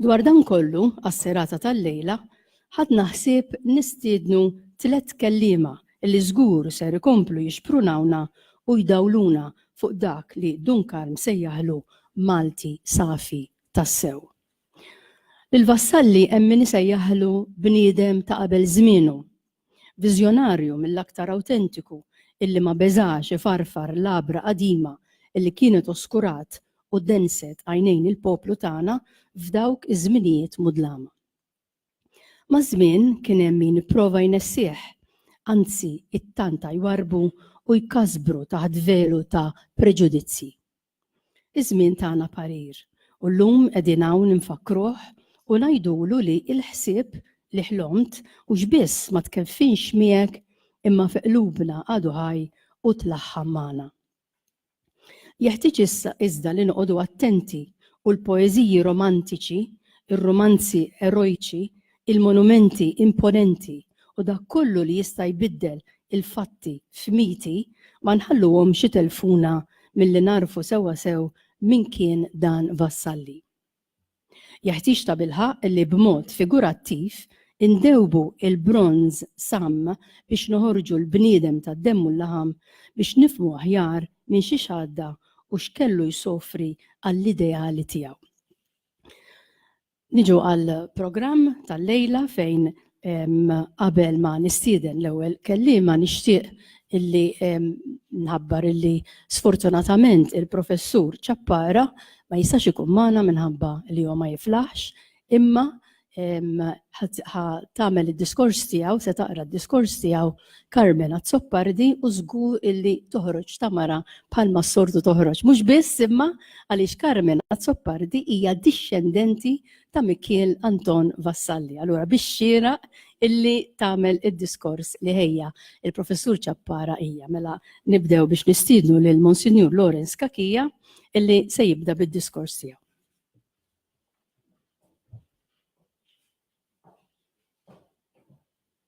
Dwar dan kollu, għas-serata tal-lejla, ħadna ħsieb nistiednu tliet kelliema li żgur ser ikomplu jixprunawna u jdawluna fuq dak li Dun Karm sejjaħlu Malti safi tassew. Lil Vassalli hemm min isejjaħlu bniedem ta' qabel żmienu, Viżjonarju mill-aktar awtentiku illi ma beżax ifarfar labra qadima illi kienet oskurat u denset għajnejn il-poplu tagħna f'dawk iż-żminijiet mudlama. Maż-żmien kien hemm min ipprova jnessih, anzi ittantaa jwarrbu u jkasbru taħt velu ta' preġudizzji. Iż-żmien tagħna parir u llum qegħdin hawn infakkruh u ngħidulu li l-ħsieb li ħlomt hux biss ma tkeffinx miegħek imma fi qlubna għadu ħaj u tlaħħam magħna. Jeħtieġ issa iżda li noqogħdu attenti u l-poeżiji romantiċi, ir-rumanzi erojċi Il-monumenti imponenti u dak kollu li jista' jbiddel il-fatti f'miti ma nħalluhomx itelfuna milli nagħrfu sewwa sew min kien dan Vassalli. Jeħtieġ tabilħaqq li b'mod figurattiv indewbu l-bronż samm biex noħorġu l-bniedem tad-demm u l-laħam biex nifhmu aħjar minn xiex għadda u x'kellu jsofri għall-ideali tiegħu. Niġu għal programm tal-lejla fejn qabel ma nistieden l-ewwel kelliema nixtieq illi nħabbar illi sfortunatament il-professur Ċappara ma jistax ikun magħna minħabba li huwa ma jiflaħx imma ħa tagħmel id-diskors tiegħu se taqra d-diskors tiegħu Carmen Azzopardi u żgur illi toħroġ ta' mara bħalma s-sortu toħroġ. Mhux biss imma għaliex Carmen Azzopardi hija dixxendenti ta' Mikiel Anton Vassalli. Allura biex xira illi tagħmel id-diskors li ħejja il-Professur Ċappara hija mela nibdew biex nistiednu lil Monsinjur Lawrence Kakija illi se jibda bid-diskors tiegħu.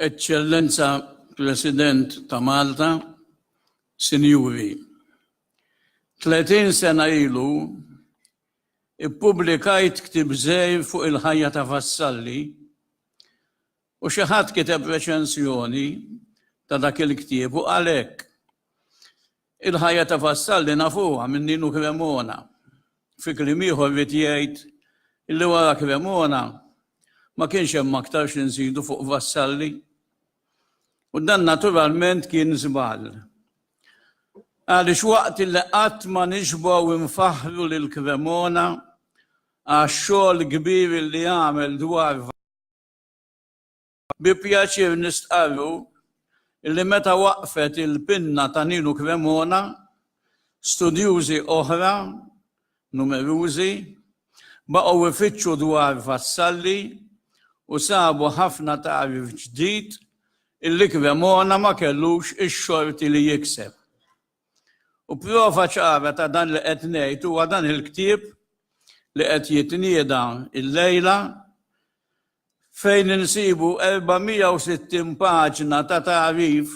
Eccellenza President ta' Malta, Sinjuri, 30 sena ilu Ippubblikajt ktieb żgħir fuq il-ħajja ta' Vassalli u xi ħadd kiteb reċensjoni ta' dak il-ktieb u qal hekk, Il-ħajja ta' Vassalli nafuha minn Ninu Cremona. Fi kliem ieħor ried jgħid li wara Cremona ma kienx hemm aktar xi nżidu fuq Vassalli. U dan naturalment kien żball. Għaliex waqt li qatt ma nixbgħu infaħru lil Cremona għax-xogħol kbir li għamel dwar bi pjaċir nistqarru li meta waqfet il-pinna ta' Ninu Cremona, studjużi oħra numerużi, baqgħu ifittxu dwar vassalli u sabu ħafna tagħrif ġdid illi Cremona ma kellux ix-xorti li jikseb. U prova ċara ta' dan li qed ngħid huwa dan il-ktieb li qed jitnieda illejla fejn insibu 460 paġna ta' tagħrif,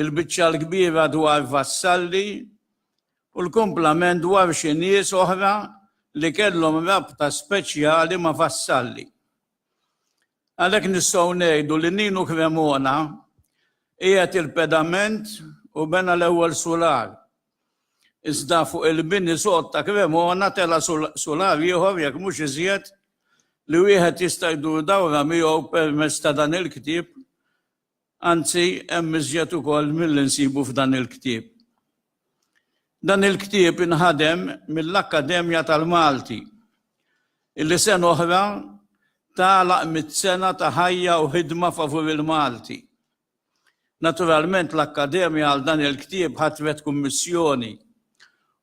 il-biċċa l-kbira dwar Vassalli u l-kumplament dwar xi nies oħra li kellhom rabta speċjali ma' Vassalli. Għalhekk nistgħu ngħidu li Ninu Cremona qiegħed il-pedament u bena l-ewwel sular. Iżda fuq il-bini sod ta' Cremona tela' sular ieħor, jekk mhux iżjed, li wieħed jista' jdur dawra miegħu permezz ta' dan il-ktieb, anzi hemm iżjed ukoll milli nsibu f'dan il-ktieb. Dan il-ktieb inħadem mill-Akkademja tal-Malti, illi sena oħra tagħlaq mitt-sena ta' ħajja u ħidma favur il-Malti. Naturalment l-Akkademja għal dan il-ktieb ħatret kummissjoni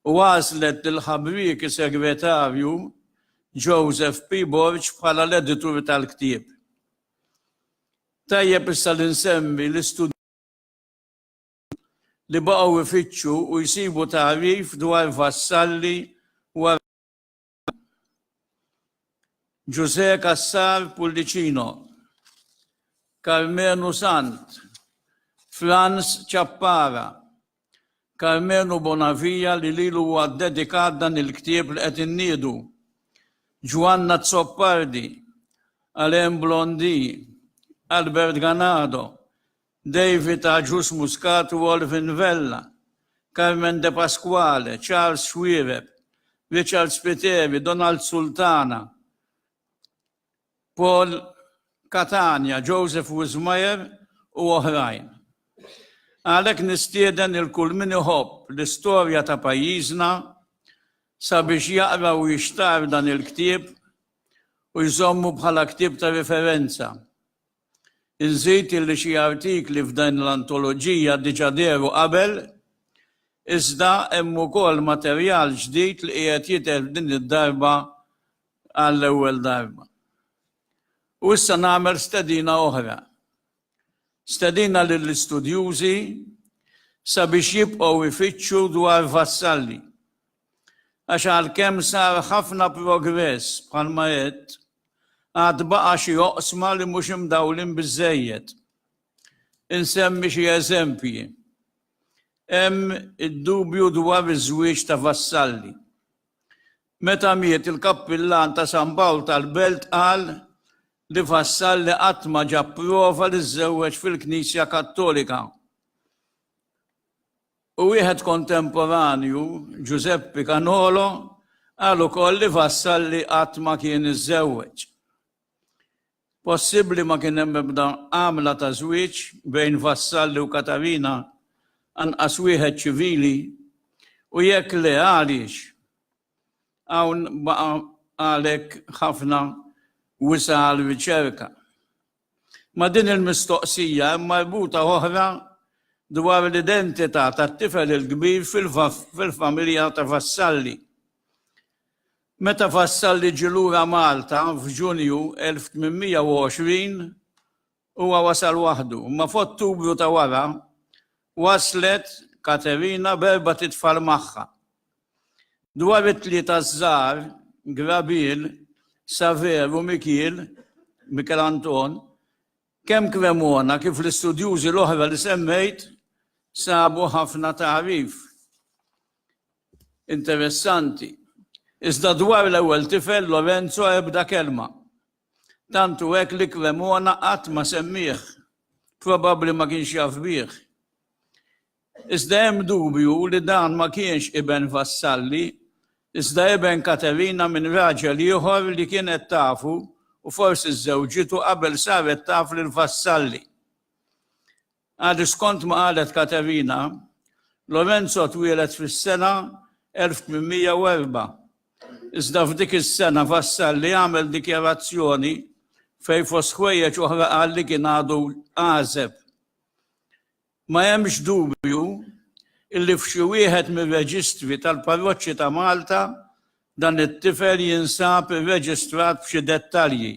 u għażlet lil ħabrieki segretarju Joseph P. Borg bħala l-editur tal-ktieb. Tajjeb issa li nsemmi l-istudjużi li baqgħu jfittxu u jsibu tagħrif dwar Vassalli wara Ġużè Cassar Pullicino, Karmenu Sant, Frans Ciappara, Karmenu Bonavia li lilu huwa ddedikat dan il-ktieb li qed inniedu, Ġwanna Azzopardi, Alain Blondy, Albert Ganado, David Agius Muscat u Olvin Vella, Carmen De Pasquale, Charles Xuereb, Richard Spiteri, Donald Sultana, Paul Catania, Joseph Wismayer u oħrajn. Għalhekk nistieden lil kull min iħobb l-istorja ta' pajjiżna sabiex jaqra u jixtarr dan il-ktieb u jżommu bħala ktieb ta' riferenza. Inżid illi xi artikli f'din l-antoloġija diġà dehru qabel, iżda hemm ukoll materjal ġdid li qiegħed jidher f'din id-darba għall-ewwel darba. U issa nagħmel stedina oħra. Stedina lill-istudjużi sabiex jibqgħu jfittxu dwar Vassalli Għax għalkemm sar ħafna progress, bħalma għedt, għad baqa' xi oqsma li mhux imdawlin biżżejjed. Insemmi xi eżempji. Hemm id-dubju dwar iż-żwieġ ta' vassalli. Meta miet il-Kappillan ta' San Pawl tal-Belt qal li Vassalli qatt ma ġab prova li żżewweġ fil-Knisja Kattolika. u wieħed kontemporanju, Giuseppe Canolo, qal ukoll li Vassalli qatt ma kien iżżewweġ. Possibbli ma kien hemm ebda għamla ta' żwieġ bejn Vassalli u Katarina, anqas wieħed ċivili, u jekk le għaliex? Hawn baqa' għalhekk ħafna wisa' għal riċerka. Ma' din il-mistoqsija hemm marbuta oħra dwar l-identità tat-tifel il-kbir fil-familja ta' Vassalli. Meta Vassalli ġie lura Malta f'Ġunju 1820, huwa wasal waħdu, imma f'Ottubru ta' wara, Waslet Katerina b'erbat itfal magħha. Dwar it-tlieta ż-żgħar, Grabiel, Xavier u Mikiel, Mikel Anton, kemm Cremona kif l-istudjużi l-oħra li semmejt sabu ħafna tagħrif interessanti. Iżda dwar l-ewwel tifel Lorenzo ebda kelma. Tant hu hekk li Cremona qatt ma semmieh. Probabbli ma kienx jaf bih. Iżda hemm dubju li dan ma kienx iben Vassalli, iżda iben Katerina minn raġel ieħor li kienet tafu u forsi żżewġitu qabel saret taf lil Vassalli. Għad skont ma qalet Katerina, Lorenzo twieled fis-sena 1804, iżda f'dik is-sena Vassalli għamel dikjarazzjoni fejn fost ħwejjeġ oħra qal li kien għadu għażeb. Ma hemmx dubju illi f'xi wieħed mir-reġistri tal-parroċċi ta' Malta Dan it-tifel jinsab irreġistrat b'xi dettalji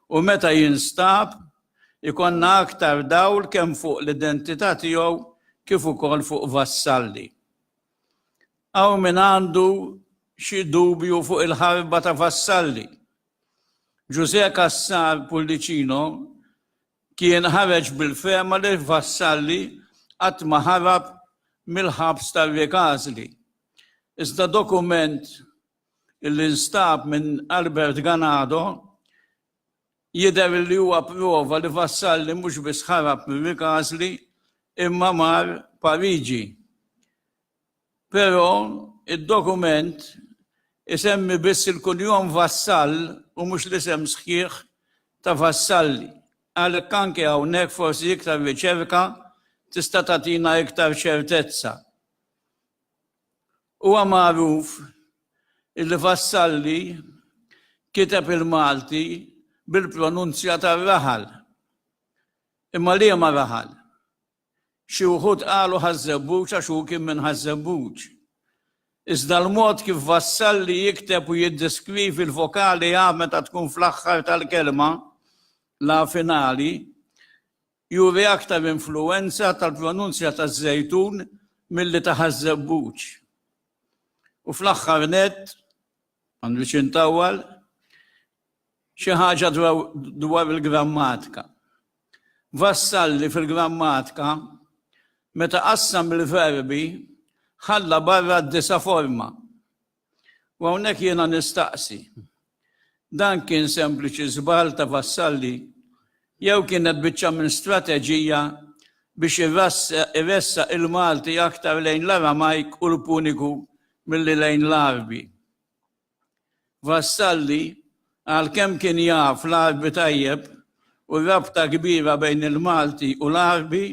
u meta jinstab ikollna aktar dawl kemm fuq l-identità tiegħu kif ukoll fuq Vassalli. Hawn min għandu xi dubju fuq il-ħarba ta' Vassalli. Ġużè Cassar Pullicino kien ħareġ bil-fehma li Vassalli qatt ma ħarab mill-ħabs tar-Riek Għażli. Iżda dokument li nstab minn Albert Ganado jidher li huwa prova li Vassalli mhux biss ħarab mir-Rikasli imma mar Pariġi. Però id-dokument isemmi biss il-kunjom Vassall u mhux l-isem sħiħ ta' Vassalli. Għalhekk anke hawnhekk forsi iktar riċerka tista' tagħtina iktar ċertezza. Huwa magħruf illi Vassalli kiteb il-Malti bil-pronunzja tar-raħal. Imma liema raħal? Xi wħud qalu Ħaż-Żebbuġ għax hu kien minn Ħaż-Żebbuġ. Iżda l-mod kif Vassalli jikteb u jiddeskrivi l-vokali 'a' meta tkun fl-aħħar tal-kelma, la finali, Juri aktar influwenza tal-pronunzja taż-Żejtun milli ta' Ħaż-Żebbuġ. U fl-aħħar nett, ma nridx intawwal, xi ħaġa dwar il-grammatika. Vassalli fil-grammatika, meta qassam il-verbi, ħalla barra d-disa' forma, U hawnhekk jiena nistaqsi, dan kien sempliċi żball ta' Vassalli jew kienet biċċa minn strateġija biex iressaq il-Malti aktar lejn l-Aramajk u l-Puniku milli lejn l-Għarbi? Vassalli, għalkemm kien jaf l-Għarbi tajjeb u r-rabta kbira bejn il-Malti u l-Għarbi,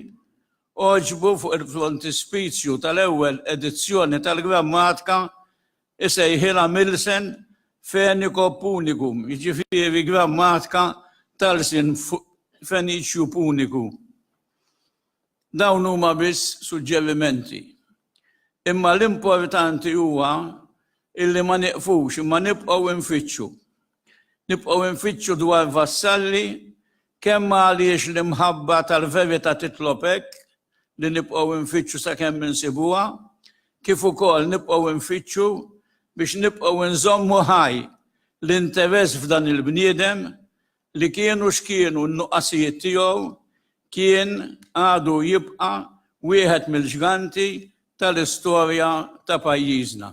Għoġbu fuq il-frontispizju tal-ewwel edizzjoni tal-grammatika jsejħilha Milsen Fenico Punicum, jiġifieri grammatika tal-lsien Feniċju Puniku. Dawn huma biss suġġerimenti. Imma l-importanti huwa illi ma nieqfux imma nibqgħu nfittxu. Nibqgħu nfittxu dwar vassalli Kemm għaliex l-imħabba tal-verità titlob hekk, li nibqgħu nfittxu sakemm insibuha, kif ukoll nibqgħu nfittxu biex nibqgħu nżommu ħaj l-interess f'dan il-bniedem li kienu x'kienu n-nuqqasijiet tiegħu, kien, għadu jibqa' wieħed mill-ġganti tal-istorja ta' pajjiżna.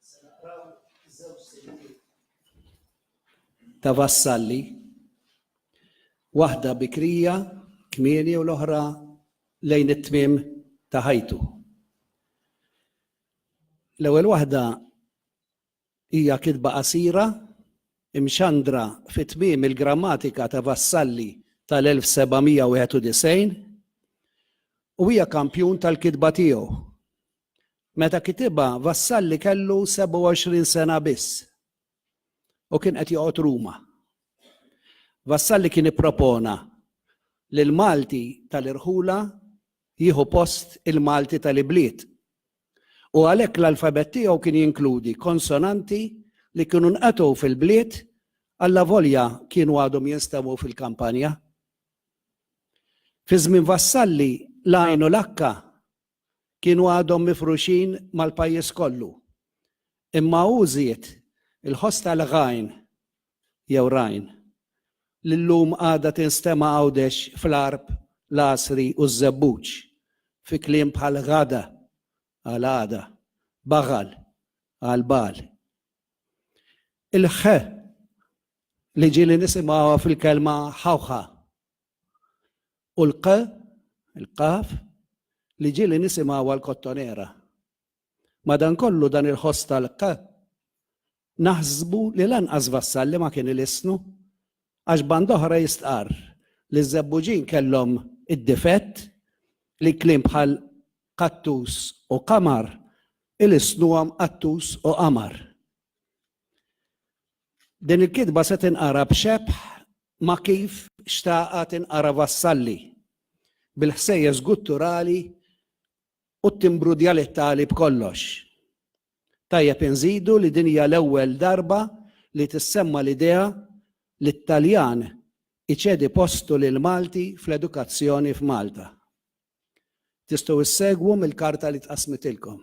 Se naqraw żewġ siltiet ta' Vassalli, waħda bikrija kmieni u l-oħra lejn it-tmiem ta' ħajtu. L-ewwel waħda hija kitba qasira imxandra fi tmiem il-grammatika ta' Vassalli tal-1791 u hija kampjun tal-kitba tiegħu. Meta kitibha, Vassalli kellu 27 sena biss u kien qed joqgħod Ruma. Vassalli kien ippropona li l-Malti tal-irħula jieħu post il-Malti tal-ibliet u għalhekk l-alfabett tiegħu kien jinkludi konsonanti li kienu nqatgħu fil-bliet allavolja kienu għadhom jinstemaw fil-kampanja. Fi żmien Vassalli l-għajn u l-akka kienu għadhom mifruxin mal-pajjiż kollu. Imma hu żied il-ħoss ta' Lghain, jew Rhine, li llum għadha tinstema' Għawdex fl-Għarb, l-Għasri u ż-Żebbuġ, fi kliem bħal ghada, għal għada, baghal, għal bagħal. Il-'ħ' li ġieli nisimgħuha fil-kelma 'ħawħa'. U l-q, il-qaf, li ġieli nisimgħu għall-Kottonera. Madankollu dan il-ħoss tal-q naħsbu li lanqas Vassalli ma kien ilisnu għax banda oħra jistqarr li ż-Żebbuġin kellhom id-difett li kliem bħal qattus u qamar ilisnuhom qattus u qamar. Din il-kitba se tinqara b'xebħ ma' kif xtaqha tinqara Vassalli, bil-ħsejjes gutturali u t-timbru djalettali b'kollox. Tajjeb inżidu li din hija l-ewwel darba li tissemma l-idea li t-Taljan iċedi postu lill-Malti fl-edukazzjoni f'Malta. Tistgħu ssegwu mill-karta li tqassmitilkom.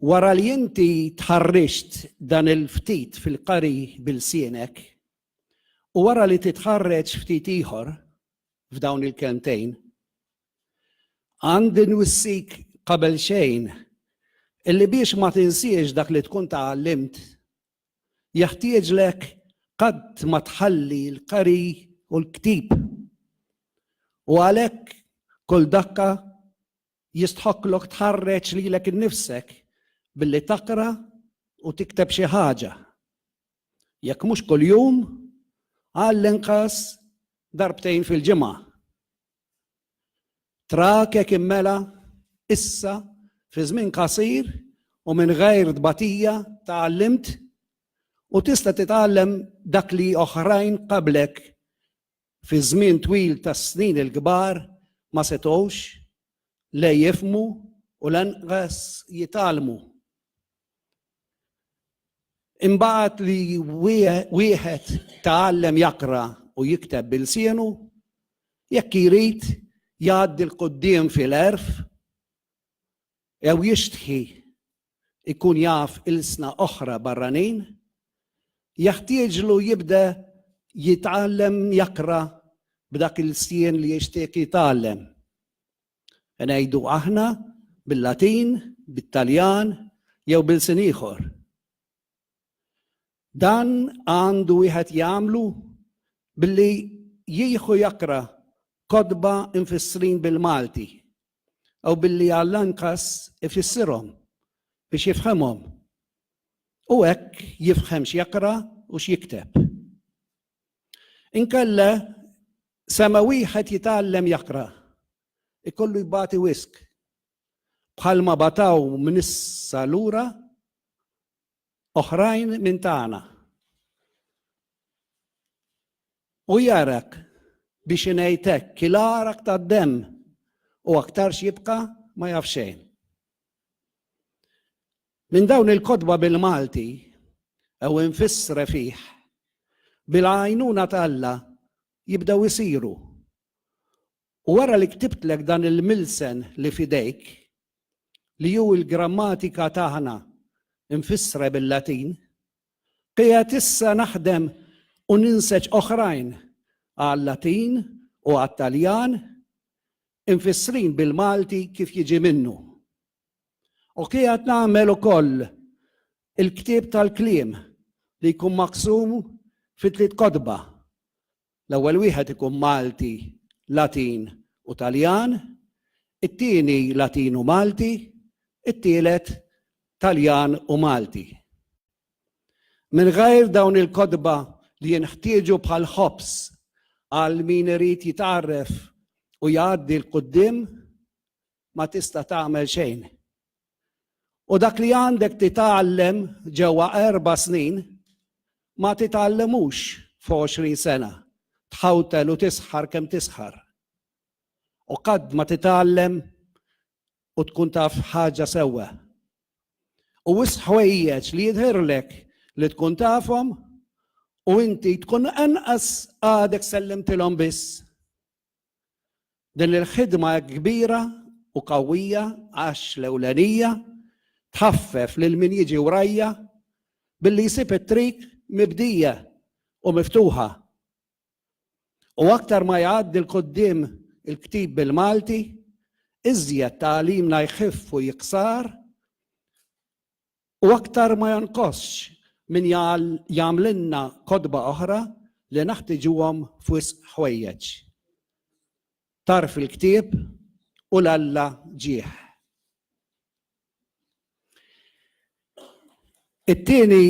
Wara li inti tħarriġt dan il-ftit fil-qari b'ilsienek, u wara li titħarreġ ftit ieħor f'dawn il-kelmtejn, għandi nwissik qabelxejn illi biex ma tinsiex dak li tkun tgħallimt, jeħtieġlek qatt ma tħalli l-qari u l-ktieb. U għalhekk kull dakka Jistħoqqlok tħarreġ lilek innifsek billi taqra u tikteb xi ħaġa. Jekk mhux kuljum, għall-inqas darbtejn fil-ġimgħa. Trakek immela issa fi żmien qasir u minn ghajr tbatija tgħallimt u tista' titgħallem dak li oħrajn qablek fi żmien twil ta' snin il-kbar ma setgħux la jifhmu u lanqas jitgħallmu. Imbagħad li wieħed tgħallem jaqra u jikteb bil-sienu, jekk jrid jgħaddi l-quddiem fil-għerf jew jixtħi ikun jaf ilsna oħra barranin, jeħtieġlu jibda jitgħallem jaqra b'dak il-lsien li jixtieq jitgħallem. Ngħidu aħna bil-Latin, bit-Taljan jew b'ilsien ieħor. Dan għandu wieħed jagħmlu billi jieħu jaqra kotba infissrin bil-Malti u billi għall-anqas ifissirhom biex jifhemhom u hekk jifhem x'jaqra u x'jikteb. Inkella sema wieħed jitgħallem jaqra ikollu jbati wisq bħalma bataw minn issa lura oħrajn minn tagħna. U jarak biex inejtek kilarak ta' dem u aktar xibka ma jafxejn. Minn dawn il-kodba bil-Malti, ew infissre fih, bil-għajnuna talla jibdew isiru. U wara li ktibtlek dan il-milsen li f'idejk, li hu l-grammatika tagħna mfissra bil-Latin, qiegħed issa naħdem u ninseġ oħrajn għal-Latin u għat-Taljan imfissrin bil-Malti kif jiġi minnu. U qiegħed nagħmel ukoll il-ktieb tal-kliem li jkun maqsum fi tliet kotba, L-ewwel wieħed ikun Malti, Latin u Taljan, it-tieni Latin u Malti, it-tielet Taljan u Malti. Mingħajr dawn il-kotba li jinħtieġu bħal ħobż għal min irid jitgħarref u jgħaddi 'l quddiem, ma tista' tagħmel xejn. U dak li għandek titgħallem ġewwa erba' snin ma titgħallimux f'għoxrin sena, tħawtel u tisħar kemm tisħar. U qatt ma titgħallem u tkun taf ħaġa sewwa. U wis ħwejjeġ li jidhirlek li tkun tafhom u inti tkun anqas għadek sellimtilhom biss. Din il-ħidma hekk kbira u qawwija għax l-ewlenija tħaffef lil min jiġi wrajja billi jsib it-triq mibdija u miftuħa. U aktar ma jgħaddi 'l quddiem il-ktieb bil-Malti, iżjed tagħlimna jħiff u jiksar U aktar ma jonqosx min jagħmlilna kotba oħra li naħtiġuhom f'wisq ħwejjeġ. Tagħrf il-ktieb u l-Alla ġieħ. It-tieni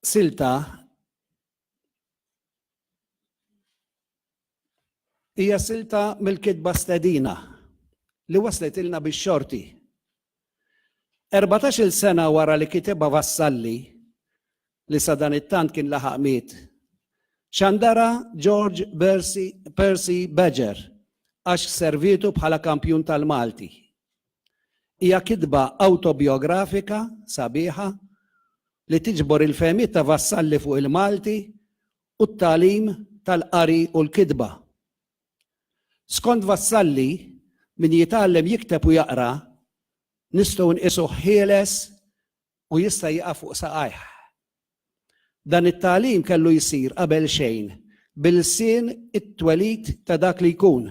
silta Hija silta mill-kitba stedina li waslet ilna bix-xorti. Erbatax-il sena wara li kitibha Vassalli, li sadanittant kien laħaq miet, xandarha George Percy Badger għax servietu bħala kampjun tal-Malti. Hija kitba awtobjografika sabiħa li tiġbor il-fehmiet ta' Vassalli fuq il-Malti u t-tagħlim tal-qari u l-kitba. Skont Vassalli, min jitgħallem jikteb u jaqra nistgħu nqisuh ħieles u jista' jieqaf fuq saqajh. Dan it-tagħlim kellu jsir qabelxejn b'ilsien it-twelid ta' dak li jkun,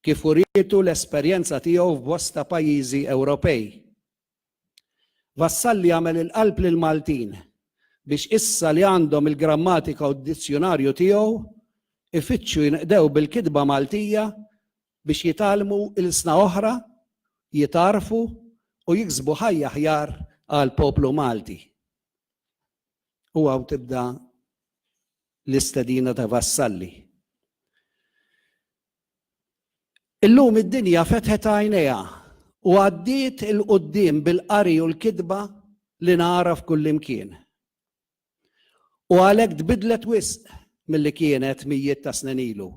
kif urietu l-esperjenza tiegħu f'bosta pajjiżi Ewropej. Vassalli għamel il-qalb lill-Maltin biex issa li għandhom il-grammatika u d-dizzjunarju tiegħu, ifittxu jinqdew bil-kitba Maltija biex jitgħallmu ilsna oħra, jitgħarrfu u jiksbu ħajja aħjar għall-poplu Malti. U hawn tibda l-istedina ta' Vassalli. Illum id-dinja fetħet għajnejha u għaddiet il-qoddim bil-qari u l-kitba li nagħraf kullimkien. U għalhekk tbidlet wisq milli kienet mijiet ta' snin ilu.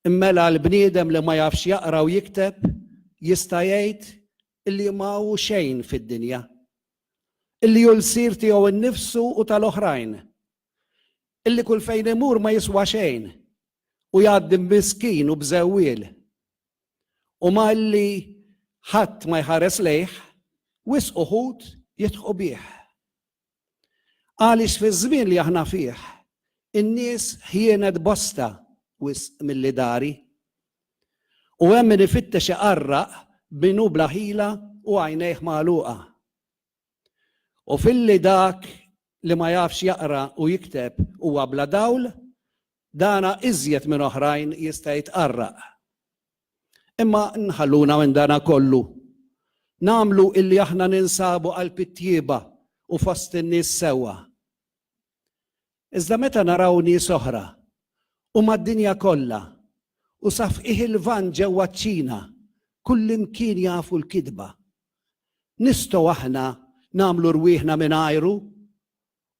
Mela l-bniedem li ma jafx jaqra u jikteb jista' jgħid li ma hu xejn fid-dinja, li hu lsir tiegħu nnifsu u tal-oħrajn, li kull fejn imur ma jiswa xejn u jgħaddi miskin u bżewwiel, u malli ħadd ma jħares lejh, wisq uħud jidħqu bih. Għaliex fiż-żmien li aħna fih, in-nies ħjienet bosta wisq milli dari. U hemm min ifittex iqarraq min hu bla ħila u għajnejh magħluqa. U filli dak li ma jafx jaqra u jikteb huwa bla dawl, dana iżjed minn oħrajn jista' jitqarraq. Imma nħalluna minn dana kollu. Nagħmlu illi aħna ninsabu qalb it-tjieba u fost in-nies sewwa. Iżda meta naraw nies oħra u mad-dinja kollha u sa fqigħ il-Lvant ġewwa ċ-Ċina kullimkien jafu l-kidba, nistgħu aħna nagħmlu rwieħna mingħajru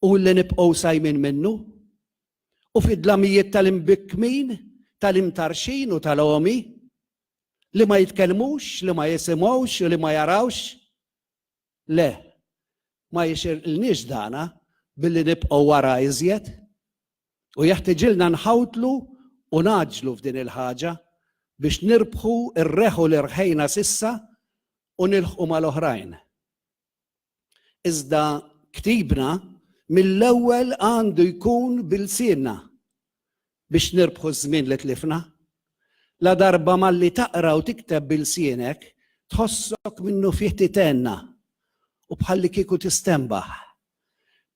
u li nibqgħu sajmin minnu, u fid-dlamijiet tal-imbikkmin, tal-imtarxin u tal-għomi, li ma jitkellmux, li ma jisimgħux u li ma jarawx? Le, ma jixirqilniex dana billi nibqgħu wara iżjed, u jeħtiġilna nħawdlu u ngħaġġlu f'din il-ħaġa biex nirbħu r-reħu li rħejna s'issa u nilħqu mal-oħrajn. Iżda ktibna mill-ewwel għandu jkun b'ilsienna biex nirbħu ż-żmien li tlifna. Ladarba malli taqra u tikteb b'ilsienek, tħossok minnufih titenna u bħallikieku tistenbaħ.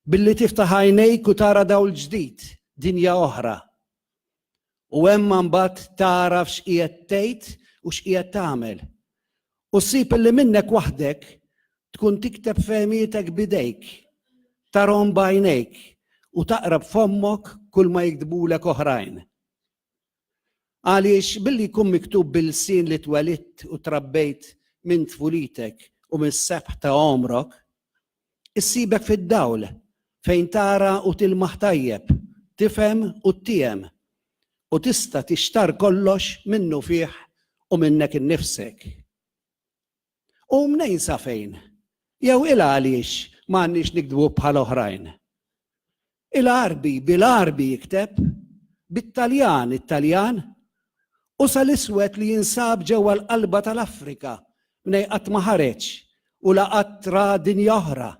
Billi tiftaħ għajnejk u tara dawl ġdid, dinja oħra. u hemm mbagħad tagħraf x'qiegħed tgħid u x'qiegħed tagħmel. U ssib illi minnek waħdek tkun tikteb fehmietek b'idejk, tarhom b'għajnejk u taqra b'fommok kull ma jiktbulek oħrajn. Għaliex billi jkun miktub bil-sin li twelidt u trabbejt minn tfulitek u mis-sebħ ta' għomrok, Issibek fid-dawl, fejn tara u tilmaħ tajjeb, tifhem u ttiehem, u tista' tixtarr kollox minnufih u minnek innifsek. U mnejn safejn, jew il għaliex m'għandniex nikdbu bħal oħrajn? Il-Għarbi, bil-Għarbi jikteb, bit-Taljan, it-Taljan, u sa l-iswed li jinsab ġewwa l-qalba tal-Afrika mnej qatt ma ħareġ u la qatt ra dinja oħra,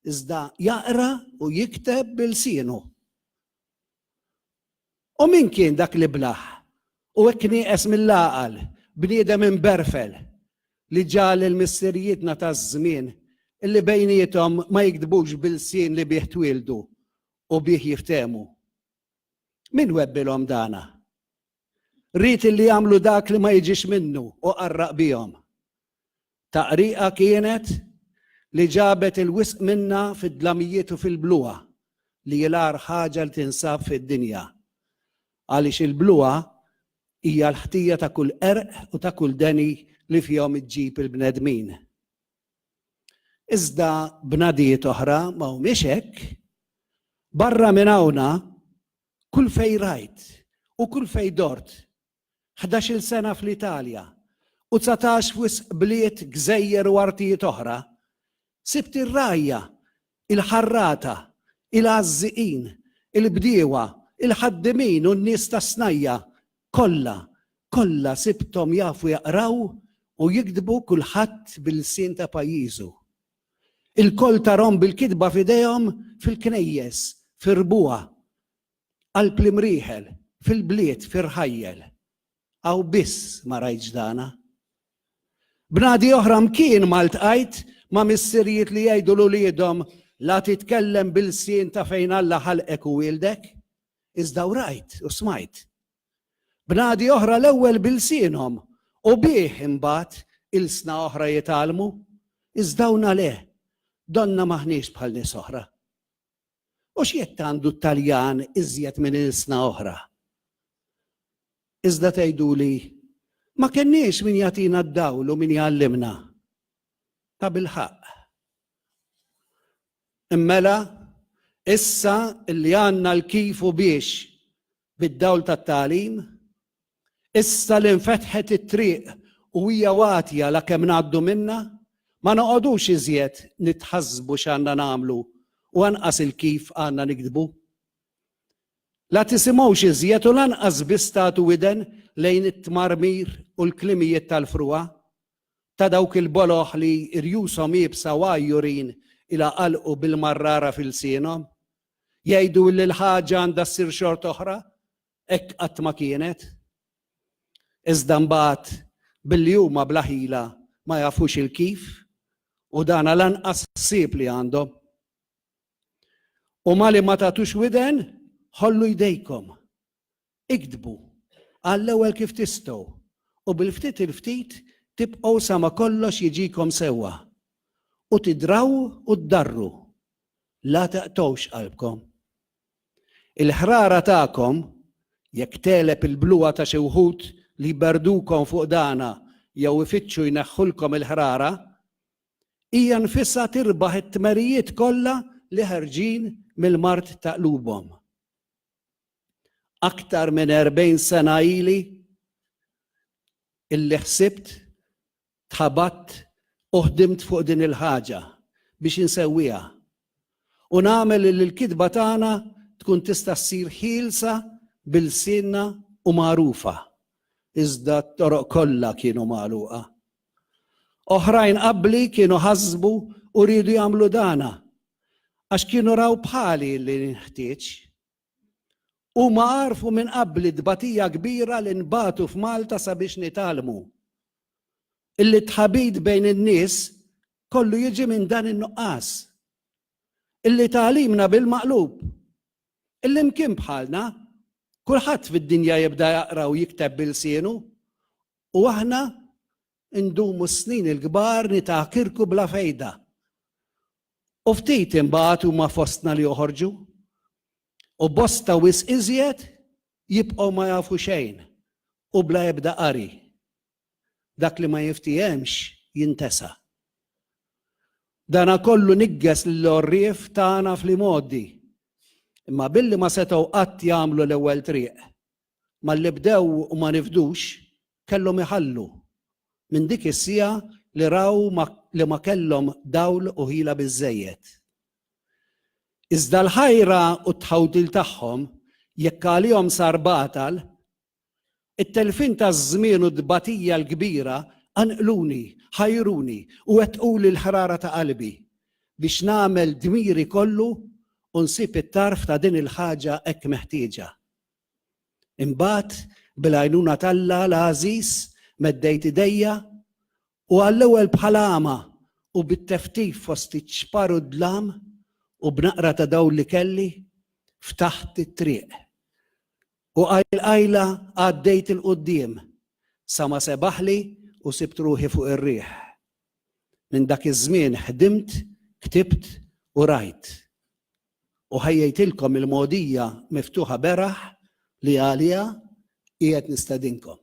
iżda jaqra u jikteb b'ilsienu. U min kien dak l-iblah u hekk nieqes mill-għaqal, bniedem imberfel, li ġagħal lil missirijietna taż-żmien li bejniethom ma jigdbux bil-lsien li bih twieldu u bih jiftehmu? Min webbilhom dana? Ried illi jagħmlu dak li ma jiġix minnu u qarraq bihom. Taqriqa kienet li ġabet il-wisq minnha fid-dlamijiet u fil-bluha li hi l-agħar ħaġa li tinsab fid-dinja. Għaliex il-bluha hija l-ħtija ta' kull qerq u ta' kull deni li fihom iġġib il-bnedmin. Iżda bnadijiet oħra ma humiex hekk. Barra minn hawnha, kull fejn rajt u kull fejn dort ħdax-il sena fl-Italja u dsatax f'wisq bliet, gżejjer u artijiet oħra, sibt ir-rgħajja, il-ħarrata, il-għażżiqin, il-bdiewa, il-ħaddiemin u n-nies tas-snajja', kollha, kollha sibthom jafu jaqraw u jiktbu kulħadd bil-lsien ta' pajjiżu. Ilkoll tarhom bil-kitba f'idejhom fil-knejjes, fir-rbuha, Qalb l-imrieħel, fil-bliet, fir-rħajjel. Hawn biss ma rajtx dana. Bnadi oħra mkien ma ltqajt ma' missirijiet li jgħidu 'l uliedhom la titkellem bil-lsien ta' fejn Alla ħalqek u wieldek, iżda hawn rajt u smajt. Bnadi oħra l-ewwel bil-lsienhom u bih imbagħad ilsna oħra jitgħallmu, iżda hawn le, donnha m'aħniex bħal nies oħra. U x'jekk għandu t-Taljan iżjed minn ilsna oħra? Iżda tgħiduli, Ma kenniex min jagħtina d-dawl u min jgħallimna. Tabilħaqq. Immela, issa li għandna l-kif u biex Bid-dawl tat-tagħlim, issa li nfetħet it-triq u hija watja lakemm ngħaddu minnha, ma noqogħdux iżjed nitħassbu x'għandna nagħmlu u anqas il-kif għandna niktbu. La tisimgħux iżjed u lanqas biss tagħtu widen lejn it-tmarmir u l-klimijiet tal-frugħa, ta' dawk il-boloh li rjushom iebsa u għajjurin ilha qalqu bil-marrara f'ilsienhom. Jgħidu li l-ħaġa għandha ssir xort'oħra, hekk qatt ma kienet. Iżda mbagħad billi huma bla ħila ma jafux il-kif u dana lanqas ħsieb li għandhom. U mali ma tagħtux widen, ħollu jdejkom. Iktbu għall-ewwel kif tistgħu u bil-ftit il-ftit tibqgħu sa ma kollox jiġikom sewwa u tidraw u ddarru. La taqtgħux qalbkom. Il-ħrara tagħkom, jekk tegħleb il-bluha ta' xi wħud li jberdukom fuq dagħna jew ifittxu jneħħulkom il-ħrara, hija nfisha tirbaħ it-tmerijiet kollha li ħerġin mill-mard ta' qlubhom. aktar minn 40 sena ili illi ħsibt tħabat u ħdimt fuq din il-ħaġa biex insewwiha. U nagħmel li l-kitba tagħna tkun tista' ssir ħielsa bil-sinna u magħrufa. Iżda t-toroq kollha kienu magħluqa. Oħrajn qabli kienu ħasbu u rridu jagħmlu dana għax kienu raw bħali li nħtieġ Huma għarfu minn qabl it-tbatija kbira li nbagħtu f'Malta sabiex nitgħallmu. Illi t-tħabit bejn in-nies kollu jiġi minn dan in-nuqqas. Illi tagħlimna bil-maqlub. Illi mkien bħalna, kulħadd fid-dinja jibda jaqra u jikteb bil-sienu, u aħna Indumu s-snin il-kbar nitgħakirku bla fejda. U ftit imbagħad huma fostna li joħorġu. U bosta wisq iżjed jibqgħu ma jafu xejn u bla ebda qari. Dak li ma jiftiehemx jintesa'. Dana kollu niggeż lill-għorrief tagħna fl-imgħoddi. Imma billi ma setgħu qatt jagħmlu l-ewwel triq, malli bdew u ma nifdux, kellhom iħallu. Minn dik is-siegħa li raw li ma kellhom dawl u ħila biżżejjed. Iżda l-ħajra u t-tħawdil tagħhom, jekk għalihom sar batal, it-telfien taż-żmien u t-tbatija l-kbira qanqluni, ħajruni u wettquli l-ħrara ta' qalbi biex nagħmel dmiri kollu u nsib it-tarf ta' din il-ħaġa hekk meħtieġa. Imbagħad, bil-għajnuna t'Alla l-għażiż, meddejt idejja u għall-ewwel bħal għama u bit-teftif fost iċ-ċpar u d-dlam u b'naqra ta' dawl li kelli, ftaħt it-triq. U qajl qajla għaddejt 'il quddiem sa ma sebaħli u sibt ruħi fuq ir-riħ. Minn dak iż-żmien ħdimt, ktibt u rajt. u ħejjejtilkom il-mogħdija miftuħa beraħ li għaliha qiegħed nistedinkom.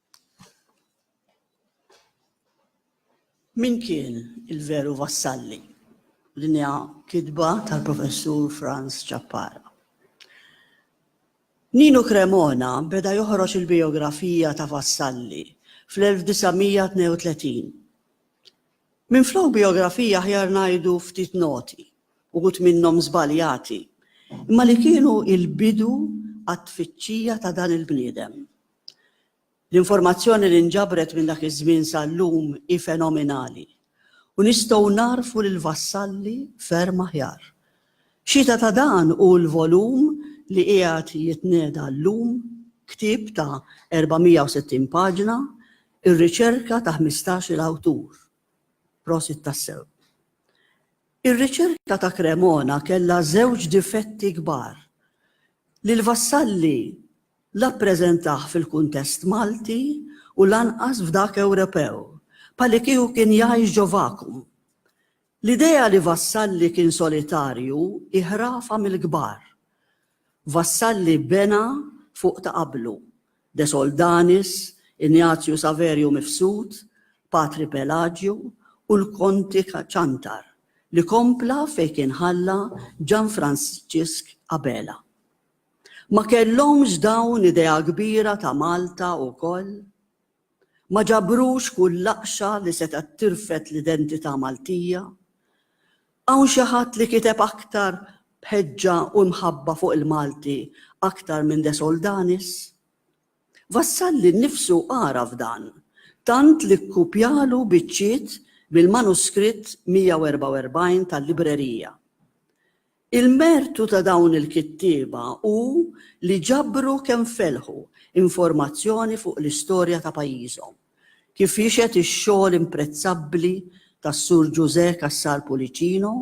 Min kien il-veru Vassalli? Din hija kitba tal-Professur Franz Ciappara. Nino Cremona beda joħroġ il-bijografija ta' Vassalli fl-1932. Minflok bijografija aħjar ngħidu ftit noti, uħud minnhom żbaljati, imma li kienu l-bidu għat-tfittxija ta' dan il-bniedem. L-informazzjoni li nġabret minn dak iż-żmien sal-lum hi fenominali u nistgħu nagħrfu lill-vassalli ferm aħjar. Xhieda ta' dan hu l-volum li qiegħed jitnieda llum, ktieb ta' 460 paġna, ir-riċerka ta' ħmistax-il awtur. Prosit tassew. Ir-riċerka ta' Cremona kellha żewġ difetti kbar, li l-vassalli la ppreżentah fil-kuntest Malti u lanqas f'dak Ewropew, bħalikieku kien jgħix ġo vakum. L-idea li Vassalli kien solitarju hi ħrafa mill-kbar. Vassalli bena fuq ta' qablu, De Soldanis, Ignazio Saverio Mifsud, Patri Pelaġju u l-Konti Ciantar, li kompla fejn kien ħalla Ġanfransġisk Abela. Ma kellhomx dawn idea kbira ta' Malta wkoll? Ma ġabrux kull laqxa li setgħet tirfed l-identità Maltija? Hawn xi ħadd li kiteb aktar b'ħeġġa u imħabba fuq il-Malti aktar minn De Soldanis? Vassalli nnifsu għaraf dan, tant li kkupjalu biċċiet mill-manuskritt 144 tal-librerija. Il-mertu ta' dawn il-kittieba hu li ġabru kemm felħu informazzjoni fuq l-istorja ta' pajjiżhom, kif jixhed ix-xogħol imprezzabbli tas-Sur Ġużè Cassar Pullicino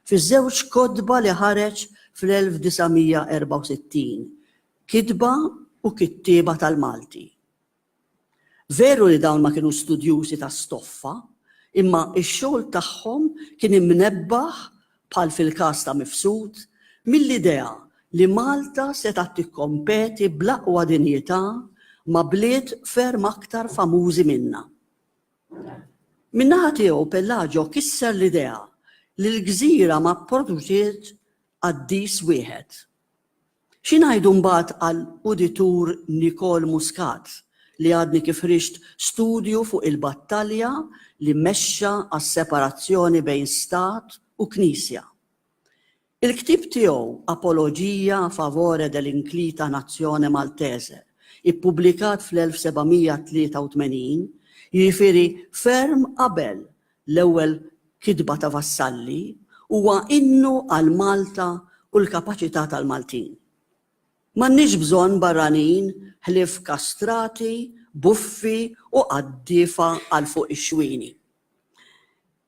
fiż-żewġ kotba li ħareġ fl-1964, Kitba u Kittieba tal-Malti. Veru li dawn ma kienu studjużi ta' stoffa, imma x-xogħol tagħhom kien imnebbaħ, bħal fil-każ ta' Mifsud, mill-idea li Malta setgħet tikkompeti bl-aqwa dinjità ma' bliet ferm aktar famużi minnha. Min-naħa tiegħu Pellaġo kisser l-idea li l-gżira ma pproduċiet qaddis wieħed. Xi ngħidu mbagħad għal Uditur Nicole Muscat li għadni kif ħriġt studju fuq il-battalja li mexxa għas-separazzjoni bejn Stat u Knisja. Il-ktieb tiegħu Apologia a favore dell'inclita nazione maltese, ippubblikat fl-1783, jiġifieri ferm qabel L-ewwel kitba ta' Vassalli huwa innu għal Malta u l-kapaċità tal-Maltin. M'għandniex bżonn barranin ħlief kastrati, buffi u qaddiefa għal fuq ix-xwieni.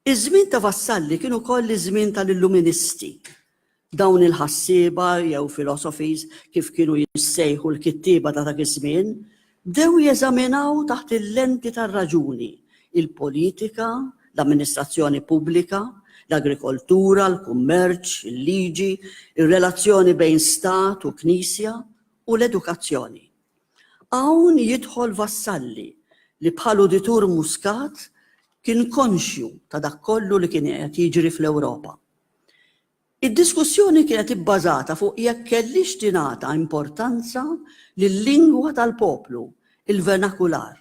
Iż-żmien ta' Vassalli kien ukoll iż-żmien tal-Illuministi, Dawn il-ħassieba jew philosophies, kif kienu jissejħu l-kittieba ta' dak iż-żmien, bdew jeżaminaw taħt il-lenti tar-raġuni, il-politika, l-amministrazzjoni pubblika, l-agrikoltura, l-kummerċ, il-liġi, ir-relazzjoni bejn stat u knisja, u l-edukazzjoni. Hawn jidħol Vassalli li bħal uditur Muscat kien konxju ta' dak kollu li kien qed jiġri fl-Ewropa. Id-diskussjoni kienet ibbażata fuq jekk kellhiex tingħata importanza lil-lingwa tal-poplu, il-vernakular,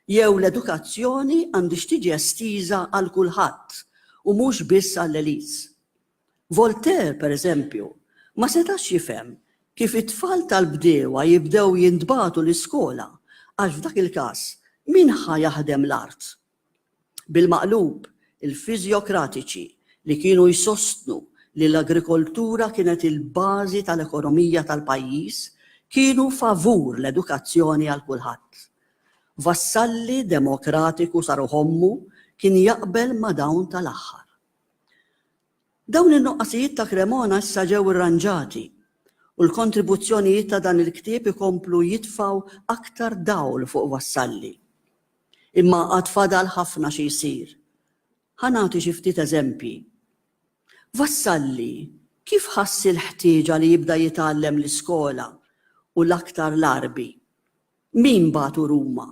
jew l-edukazzjoni għandhiex tiġi estiża għal kulħadd u mhux biss għall-elites. Voltaire, pereżempju, ma setax jifhem kif it-tfal tal-bdiewa jibdew jintbagħtu l-iskola għax f'dak il-każ min ħa jaħdem l-art? Bil-maqlub, il-fiżjokratiċi li kienu jsostnu li l-agrikoltura kienet il-bażi tal-ekonomija tal-pajjiż kienu favur l-edukazzjoni għal kulħadd. Vassalli demokratiku sa ruħ ommu kien jaqbel ma' dawn tal-aħħar. Dawn in-nuqqasijiet ta' Cremona issa ġew irranġati u l-kontribuzzjonijiet ta' dan il-ktieb ikomplu jitfgħu aktar dawl fuq Vassalli. Imma għad fadal ħafna xi jsir. Ħa nagħti xi ftit eżempji. Vassalli kif ħass il-ħtieġa li jibda jitgħallem l-iskola u l-aktar l-Għarbi? Min bagħtu Ruma?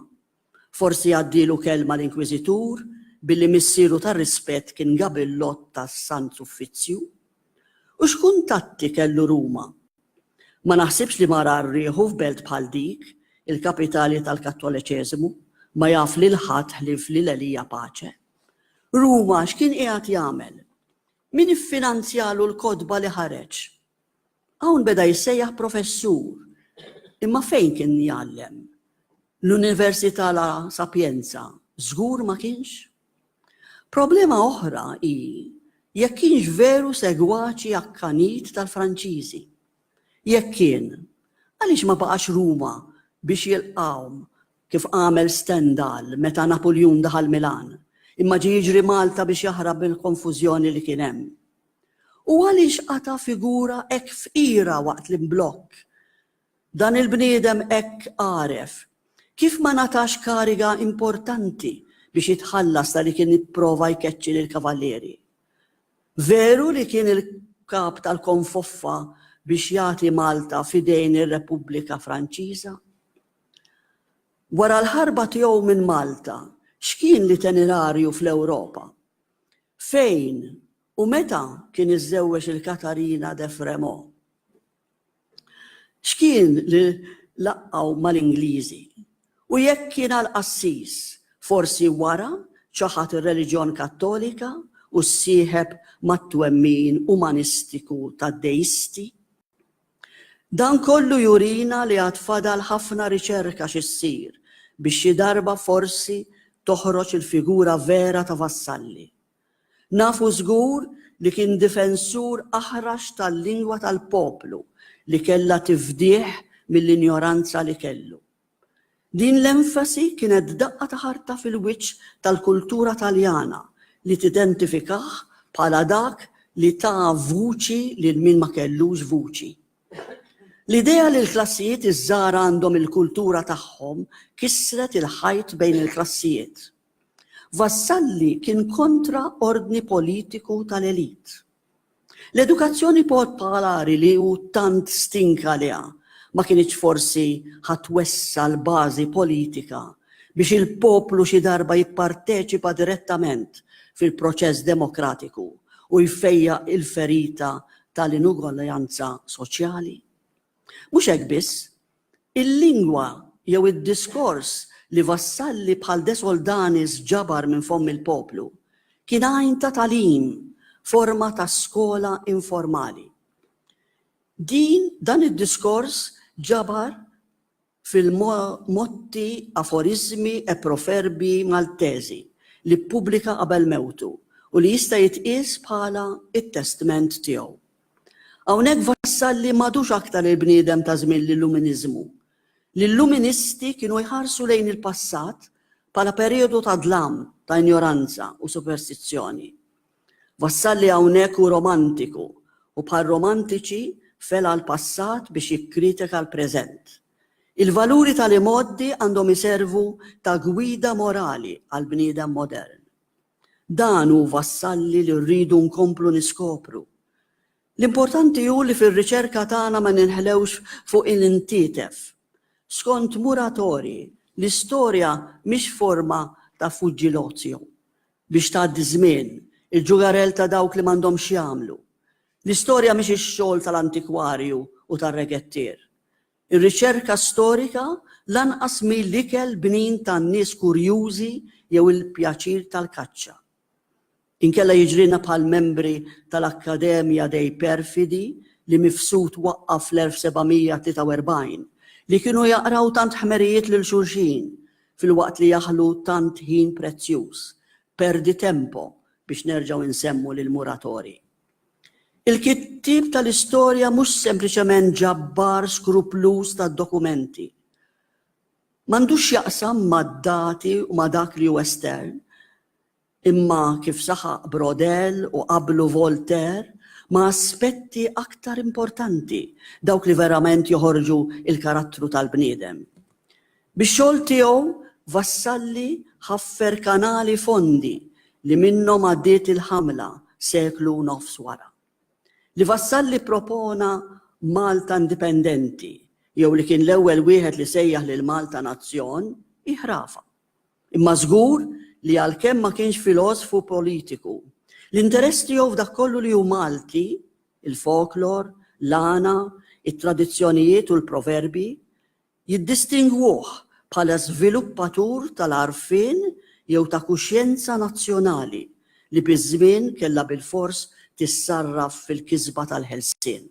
Forsi għaddielu kelma l-Inkwiżitur billi missieru ta' rispett kien Gabillot tas-Sant Suffizzju? U x'kuntatti kellu Ruma? Ma naħsibx li marar rieħu f'belt bħal dik, il-kapitali tal-Kattoleċeżimu, ma jaf lil ħadd ħlief lil Elija Pace. Ruma x'kien qiegħed jagħmel? Min iffinanzjalu l-kotba li ħareġ? Hawn beda jissejjaħ professur. Imma fejn kien jgħallem? L-Università La Sapienza żgur ma kienx? Problema oħra hi jekk kienx veru segwaċi akkanit tal-Franċiżi. Jekk kien, għaliex ma baqax Ruma biex jilqgħhom kif għamel Stendhal meta Napuljun daħal Milan, imma ġie jiġri Malta biex jaħrab mill-konfużjoni li kien hemm? U għaliex qata' figura hekk fqira waqt l-imblokk Dan il-bniedem hekk għaref, kif ma ngħatax kariga importanti biex jitħallas ta' li kien ipprova jkeċċi lill-kavallieri. Veru li kien il-kap tal-konfoffa biex jagħti Malta f'idejn ir-Repubblika Franċiża? Wara l-ħarba tiegħu minn Malta, x'kien l-itenerarju fl-Ewropa? Fejn u meta kien iżżewweġ il-Katarina de Frémaux? X'kien li laqqgħu mal-Ingliżi? U jekk kien għall-qassis, forsi wara ċaħad ir-reliġjon Kattolika u ssieħeb mat-twemmin umanistiku tad-Deisti? Dan kollu jurina li għad fadal ħafna riċerka xi ssir biex xi darba forsi toħroġ il-figura vera ta' Vassalli. Nafu żgur li kien difensur aħrax tal-lingwa tal-poplu li kellha tifdih mill-injoranza li kellu. Din l-enfasi kienet daqqa ta' ħarta fil-wiċċ tal-kultura Taljana li tidentifikah bħala dak li ta vuċi lil min ma kellux vuċi. L-idea li l-klassijiet iż-żgħar għandhom il-kultura tagħhom kissret il-ħajt bejn il-klassijiet. Vassalli kien kontra ordni politiku tal-elit. L-edukazzjoni popolari li hu tant stink għaliha ma kinitx forsi ħa twessa' l-bażi politika biex il-poplu xi darba jipparteċipa direttament fil-proċess demokratiku u jfejjaq il-ferita tal-inugwaljanza soċjali? Mhux hekk biss, Il-lingwa jew id-diskors li vassalli bħal De Soldanis ġabar minn fomm il-poplu kien għajn ta' tagħlim, forma ta' skola informali. Din, dan id-diskors ġabar fil-motti, aforiżmi e proferbi Maltezi li ppubblika qabel mewtu u li jista' jitqies bħala t-testment tiegħu. Hawnhekk Vassalli m'għadux aktar il-bniedem ta' żmien l-Illuminiżmu. L-Illuministi kienu jħarsu lejn il-passat bħala perijodu ta' dlam, ta' injoranza u superstizzjoni. Vassalli hawnhekk hu romantiku u bħar-romantiċi fela' l-passat biex jikkritika l-preżent. Il-valuri tal-imgħoddi għandhom iservu ta' gwida morali għall-bniedem modern. Dan hu vassalli li rridu nkomplu niskopru. L-importanti hu li fir-riċerka tagħna ma ninħlewx fuq il-ntietef. Skont Muratori, l-istorja mhix forma ta' fuġġi l-ozio, biex tgħaddi ż-żmien, il-ġugarell ta' dawk li m'għandhom x'jagħmlu. L-istorja mhix ix-xogħol tal-antikwarju u tar-regettier. Ir-riċerka storika lanqas mhi l-ikel bnin tan-nies kurjużi jew il-pjaċir tal-kaċċa. Inkella jiġrilna bħall-membri tal-Accademia dei Perfidi li Mifsud waqqa' fl-1743, li kienu jaqraw tant ħmerijiet lil xulxin filwaqt li jaħlu tant ħin prezzjuż, perdi tempo biex nerġgħu nsemmu lill-Muratori. Il-kittieb tal-istorja mhux sempliċement ġabbar skrupluż tad-dokumenti. M'għandux x'jaqsam mad-dati u ma' dak li hu estern, imma, kif saħaq Braudel u qablu Voltaire, ma' aspetti aktar importanti, dawk li verament joħorġu l-karattru tal-bniedem. Bix-xogħol tiegħu Vassalli ħaffer kanali fondi li minnhom għaddiet il-ħamla seklu u nofs wara. Li Vassalli ppropona Malta indipendenti jew li kien l-ewwel wieħed li sejjaħ lil Malta nazzjon hi ħrafa. Imma żgur li għalkemm ma kienx filosfu u politiku, l-interess tiegħu f'dak kollu li hu Malti, il-folklor, l-għana, it-tradizzjonijiet u l-proverbi, jiddistingwuh bħala żviluppatur tal-għarfien jew ta' kuxjenza nazzjonali li biż-żmien kellha bilfors tissarraf fil-kisba tal-ħelsien.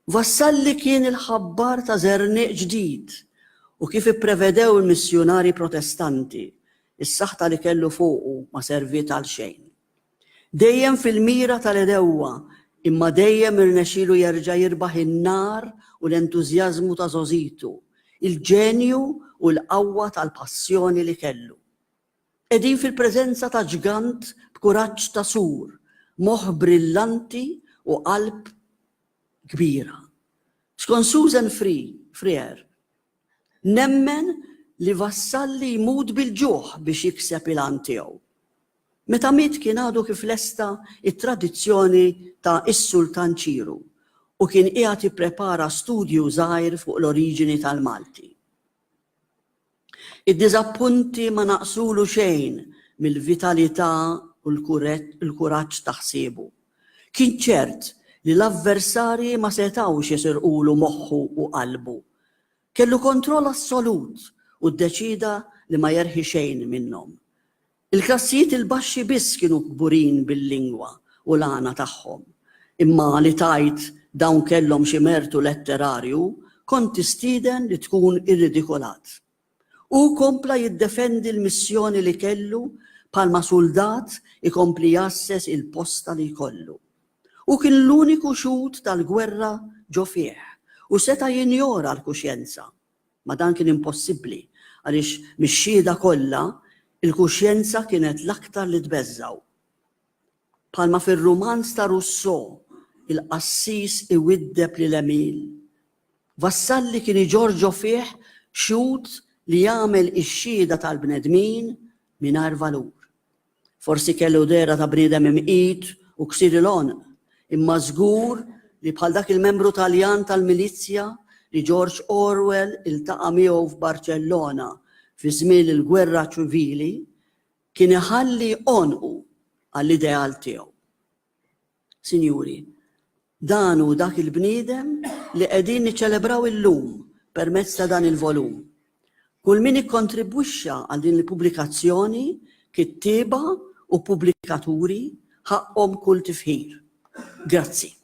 Vassalli kien il-ħabbar ta' żerniq ġdid u kif ipprevedew il-missjunarji Protestanti, is-saħta li kellu fuqu ma serviet għal xejn. Dejjem fil-mira tal-għedewwa, imma dejjem irnexxielu jerġa' jirbaħ in-nar u l-entużjażmu ta' żgħożitu, il-ġenju u l-qawwa tal-passjoni li kellu. Qegħdin fil-preżenza ta' ġgant b'kuraġġ ta' sur, moħħ brillanti u qalb kbira. Skont Susan Free, Freer, Nemmen li Vassalli jmut bil-ġuħ biex jikseb il-għan tiegħu. Meta miet kien għadu kif lesta t-tradizzjoni ta' Is-Sultan Ċiru u kien qiegħed jipprepara studju żgħir fuq l-oriġini tal-Malti. Id-diżappunti ma naqsulu xejn mill-vitalità u l-kuraġġ ta' ħsiebu. Kien ċert li l-avversarji ma setgħux jesirqulu moħħu u qalbu. Kellu kontroll assolut u ddeċieda li ma jerħi xejn minnhom. Il-klassijiet il-baxxi biss kienu kburin bil-lingwa u l-għana tagħhom. Imma li tgħid dawn kellhom xi mertu letterarju kont tistieden li tkun irridikolat. Hu kompla jiddefendi l-missjoni li kellu bħalma suldat ikompli jgħasses il-posta li jkollu. Hu kien l-uniku xhud tal-gwerra ġo fih u seta' jinjora l-kuxjenza. Ma dan kien impossibbli għaliex mix-xhieda kollha, il-kuxjenza kienet l-aktar li tbeżżgħu. Bħalma fir-rumanz ta' Rousseau, il-qassis iwiddeb lil Emile. Vassalli kien iġorġo fih xhud li jagħmel ix-xhieda tal-bnedmin mingħajr valur. Forsi kellu dehra ta' bniedem imqit u ksir il-għonq, imma żgur li bħal dak il-membru Taljan tal-milizja li George Orwell iltaqa' miegħu f'Barċellona fi żmien il-Gwerra Ċivili, Kien iħalli għonqu għall-ideal tiegħu. Sinjuri, dan hu dak il-bniedem li qegħdin niċċelebraw illum permezz ta' dan il-volum. Kull min ikkontribwixxa għal din il-pubblikazzjoni, kittieba u pubblikaturi, ħaqqhom kull tifħir. Grazzi.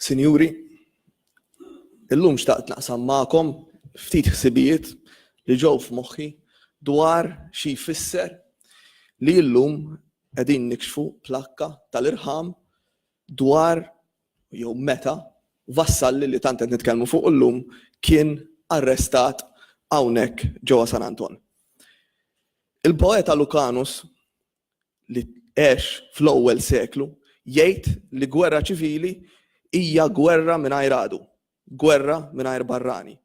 Sinjuri, illum xtaqt naqsam magħkom ftit ħsibijiet li ġew f'moħħi dwar xi jfisser li illum qegħdin nikxfu plakka tal-irħam dwar jew meta Vassalli li tant qed nitkellmu fuq illum kien arrestat hawnhekk ġewwa San Anton. Il-poeta Lucanus li għex fl-ewwel seklu jgħid li gwerra ċivili hija gwerra mingħajr għadu, gwerra mingħajr barrani.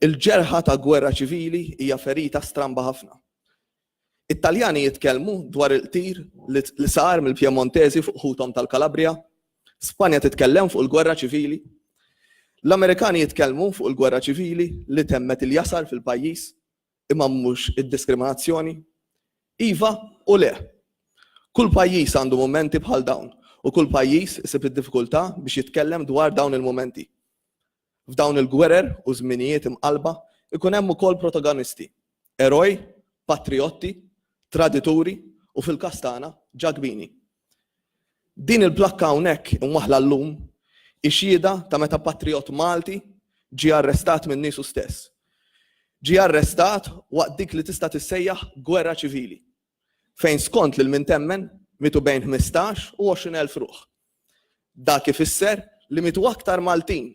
Il-ġerħa ta' gwerra ċivili hija ferita stramba ħafna. It-Taljani jitkellmu dwar il-qtir li sar mill-Pjemontesi fuq ħuthom tal-Kalabrija, Spanja titkellem fuq il-gwerra ċivili, l-Amerikani jitkellmu fuq il-gwerra ċivili li temmet il-jasar fil-pajjiż, Imma mhux id-diskriminazzjoni? Iva u le. Kull pajjiż għandu mumenti bħal dawn u kull pajjiż isib id-diffikultà biex jitkellem dwar dawn il-mumenti. F'dawn il-gwerer u żminijiet imqallba jkun hemm ukoll protagonisti, eroj, patrijotti, tradituri u fil-każ tagħna, ġakbini. Din il-plakka hawnhekk imwaħħla llum hi xhieda ta' meta patrijott Malti ġie arrestat minn niesu stess. Ġie arrestat waqt dik li tista' tissejjaħ gwerra ċivili, fejn skont lil min temmen mietu bejn ħmistax u għoxrin elf ruħ. Dak ifisser li mietu aktar Maltin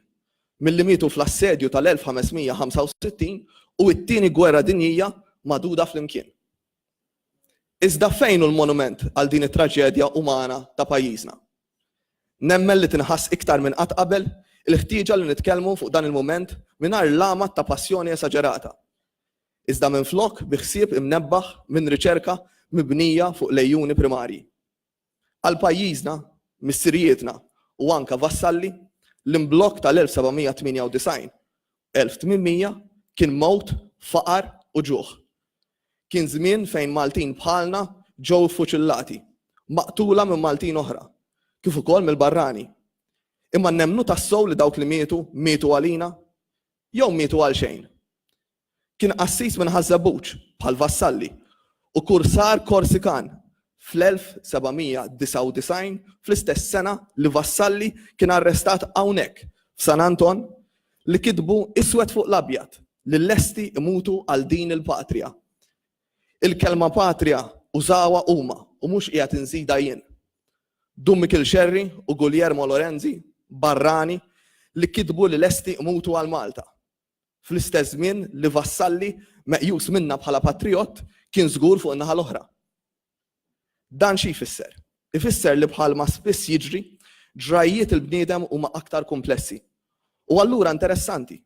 milli mietu fl-assedju tal-1565 u t-Tieni Gwerra Dinjija magħduda flimkien. Iżda fejn hu l-monument għal din it-traġedja umana ta' pajjiżna? Nemmen li tinħass iktar minn qatt qabel il-ħtieġa li nitkellmu fuq dan il-mument mingħajr l-għamad ta' passjoni esaġerata, iżda minflok bi ħsieb imnebbaħ minn riċerka mibnija fuq l-għejuni primarji. Għal pajjiżna, missirijietna u anke vassalli, l-imblokk tal-1798, 1800 kien mewt, faqar u ġuħ. Kien żmien fejn Maltin bħalna ġew iffuċillati, maqtula minn Maltin oħra, kif ukoll mill-barrani. Imma nemmnu tassew li dawk li mietu, mietu għalina? Jew mietu għalxejn? Kien qassis minn Ħaż-Żebbuġ, bħal Vassalli, u kursar Korsikan fl-1799, fl-istess sena li Vassalli kien arrestat hawnhekk, f'San Anton, li kitbu iswed fuq l-abjad li lesti jmutu għal din il-Patria. Il-kelma Patria użawha huma u mhux qiegħed inżidha jien. Dun Mikil Xerri u Guljermo Lorenzi, barrani, li kitbu li lesti jmutu għal Malta. Fl-istess żmien li Vassalli, meqjus minna bħala patrijott, kien żgur fuq in-naħa l-oħra. Dan xi jfisser? Ifisser li bħalma spiss jiġri, ġrajjiet il-bniedem huma aktar kumplessi. U allura interessanti,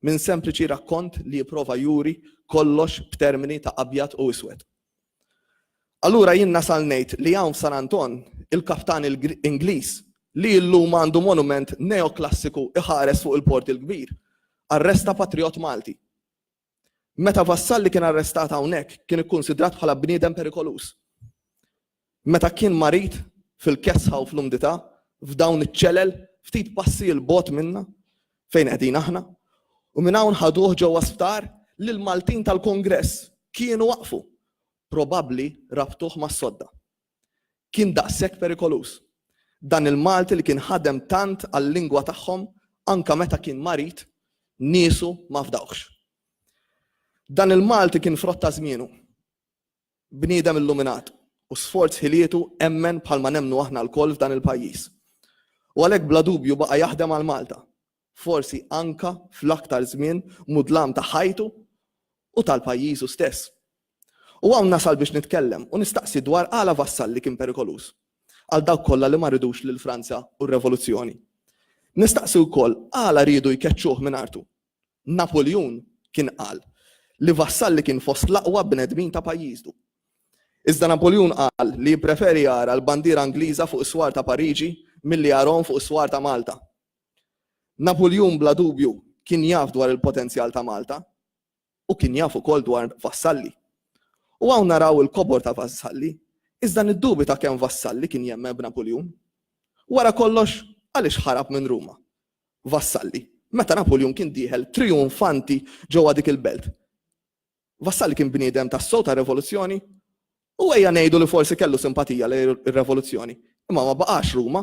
minn sempliċi rakkont li jipprova juri kollox b'termini ta' abjad u iswed. Allura jien nasal ngħid li hawn f'San Anton il-kaptan Ingliż li illum għandu monument neoklassiku iħares fuq il-Port il-Kbir, arresta patrijott Malti. Meta Vassalli kien arrestat hawnhekk kien ikkunsidrat bħala bniedem perikoluż. Meta kien marid fil-kesħa u fl-umdità, f'dawn iċ-ċelel, ftit passi 'l bogħod minna, fejn qegħdin aħna, u minn hawn ħaduh ġewwa sptar li l-Maltin tal-Kungress kienu waqqfu. Probabbli rabtuh mas-sodda. Kien daqshekk perikoluż. Dan il-Malti li kien ħadem tant għal-lingwa tagħhom anke meta kien marid, niesu ma fdawhx. Dan il-Malti kien frott ta' żmienu. Bniedem illuminat u sforz ħilietu emmen bħal ma nemmnu aħna lkoll f'dan il-pajjiż. U għalhekk bla dubju baqa' jaħdem għal Malta, forsi anka fl-aktar żmien mudlam ta' ħajtu u tal-pajjiżu stess. U hawn nasal biex nitkellem u nistaqsi dwar għala Vassalli kien perikoluż għal dawk kollha li ma ridux lil Franza u r-revoluzzjoni. Nistaqsi wkoll għala riedu jkeċċuh minn artu Napuljun kien qal li Vassalli kien fost l-aqwa bnedmin ta' pajjiżdu. Iżda Napuljun qal li jippreferi jara l-bandiera Ingliża fuq is-swar ta' Pariġi milli jarahom fuq is-swar ta' Malta. Napuljun bla dubju kien jaf dwar il-potenzjal ta' Malta u kien jaf ukoll dwar Vassalli. U hawn naraw il-kobor ta' Vassalli, iżda niddubita kemm Vassalli kien jemmen b'Napuljun. Wara kollox, għaliex ħarab minn Ruma? Vassalli, meta Napuljun kien dieħel trijunfanti ġewwa dik il-belt. Vassalli kien bniedem tassew tar-revoluzzjoni? U ejja ngħidu li forsi kellu simpatija lejn ir-revoluzzjoni, imma ma baqax Ruma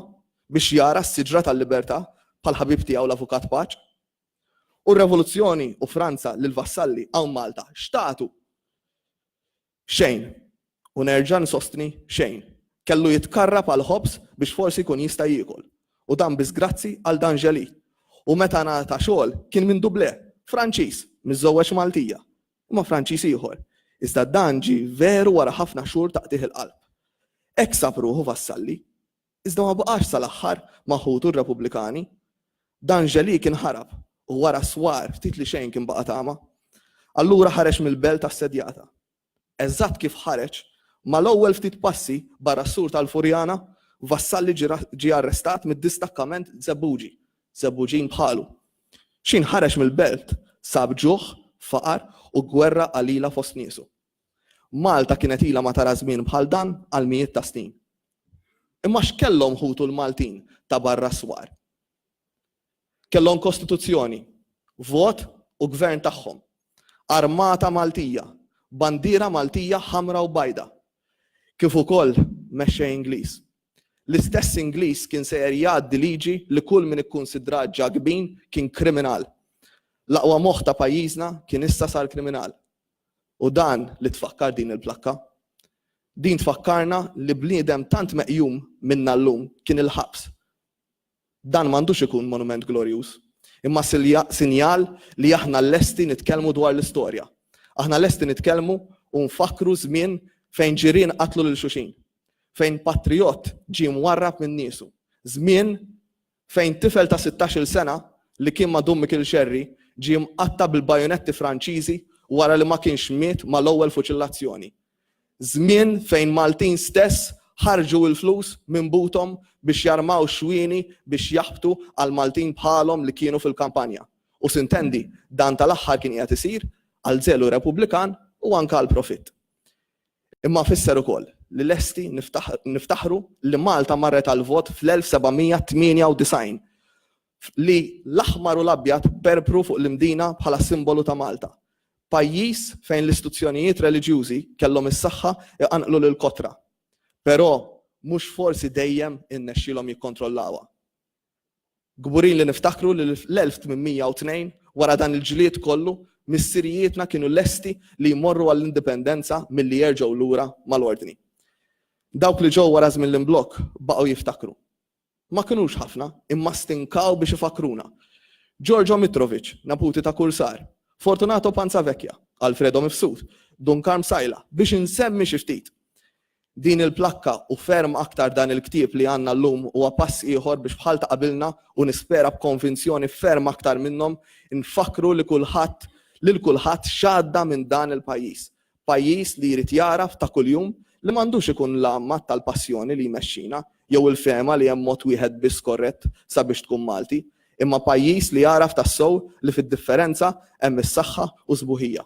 biex jara s-siġra tal-libertà bħall-ħabib tiegħu l-Avukat Paċ. U r-revoluzzjoni u Franza lil Vassalli hawn Malta x'tatu? Xejn. U nerġa' nsostni xejn. Kellu jitkarrab għall-ħobż biex forsi jkun jista' jiekol. U dan biss grazzi għal D'Angeli. U meta ngħata xogħol kien minn Dublè, Franċiż, miżżewweġ Maltija. Imma Franċiż ieħor. Iżda dan ġie veru wara ħafna xhur ta' qtigħ il-qalb. Hekk sab ruħu Vassalli. Iżda ma baqax sal-aħħar ma' ħutu r-Repubblikani. D'Angeli kien ħarab u wara s-swar ftit li xejn kien baqa' tama. Allura ħareġ mill-belt assedjata. Eżatt kif ħareġ, mal-ewwel ftit passi barra s-sur tal-Furjana, Vassalli ġie arrestat mid-distakkament Żebbuġi, Żebbuġin bħalu. X'ħin ħareġ mill-belt sab ġuħ, faqar u gwerra qalila fost niesu. Malta kienet ilha ma tara żmien bħal dan għal mijiet ta' snin. Imma x'kellhom ħutu l-Maltin ta' barra s-swar? Kellhom Kostituzzjoni, vot u gvern tagħhom, armata Maltija, bandiera Maltija ħamra u bajda, kif ukoll mexxej Ingliż. L-istess Ingliż kien sejjer jgħaddi liġi li kull min ikkunsidrat Ġakbin kien kriminal. L-aqwa moħħ ta' pajjiżna kien issa sar kriminal. U dan li tfakkar din il-plakka. Din tfakkarna li bniedem tant meqjum minna llum kien il-ħabs. Dan m'għandux ikun monument glorjuż, imma sinjal li aħna lesti nitkellmu dwar l-istorja. Aħna lesti nitkellmu u nfakkru żmien fejn ġirien qatlu lil xuxin, fejn patrijott ġie mwarrab minn niesu, żmien fejn tifel ta' sittax-il sena li kien ma' Dun Mikil Xerri ġie mqatta' bil-bajonetti Franċiżi wara li ma kienx miet mal-ewwel fuċillazzjoni. Żmien fejn Maltin stess ħarġu il-flus minn buthom biex jarmaw xwieni biex jaħbtu għal Maltin bħalhom li kienu fil-kampanja. U sintendi, dan tal-aħħar kien qiegħed isir għal żelu Repubblikan u anke għall-profitt. Imma fisser ukoll li lesti niftaħru li Malta marret għall-vot fl-1798, li l-aħmar u l-abjad perbru fuq l-Imdina bħala simbolu ta' Malta, pajjiż fejn l-istuzzjonijiet reliġjużi kellhom is-saħħa jqanqlu lill-kotra, però mhux forsi dejjem irnexxielhom jikkontrollawha. Kburin li niftakru li fl-1802, wara dan il-ġlied kollu, missirijietna kienu lesti li jmorru għall-Indipendenza milli jerġgħu lura mal-Ordni. Dawk li ġew wara żmien l-imblokk baqgħu jiftakru. Ma kinux ħafna, imma stinkaw biex ifakkruna. Giorgio Mitrovic, neputi ta' kursar, Fortunato Panzavecchia, Alfredo Mifsud, Dun Karm Sajla, biex insemmi xi ftit. Din il-plakka u ferm aktar dan il-ktieb li għandna llum huwa pass ieħor biex bħal ta' qabilna u nispera b'konvinzjoni ferm aktar minnhom infakkru li kulħadd lil kulħadd x'għadda minn dan il-pajjiż. Pajjiż li jrid jagħraf ta' kuljum li m'għandux ikun l-għammat tal-passjoni li jmexxina jew il-fehma li hemm mod wieħed biss korrett sabiex tkun Malti, imma pajjiż li jagħraf tassew li fid-differenza hemm is-saħħa u s-sbuħija.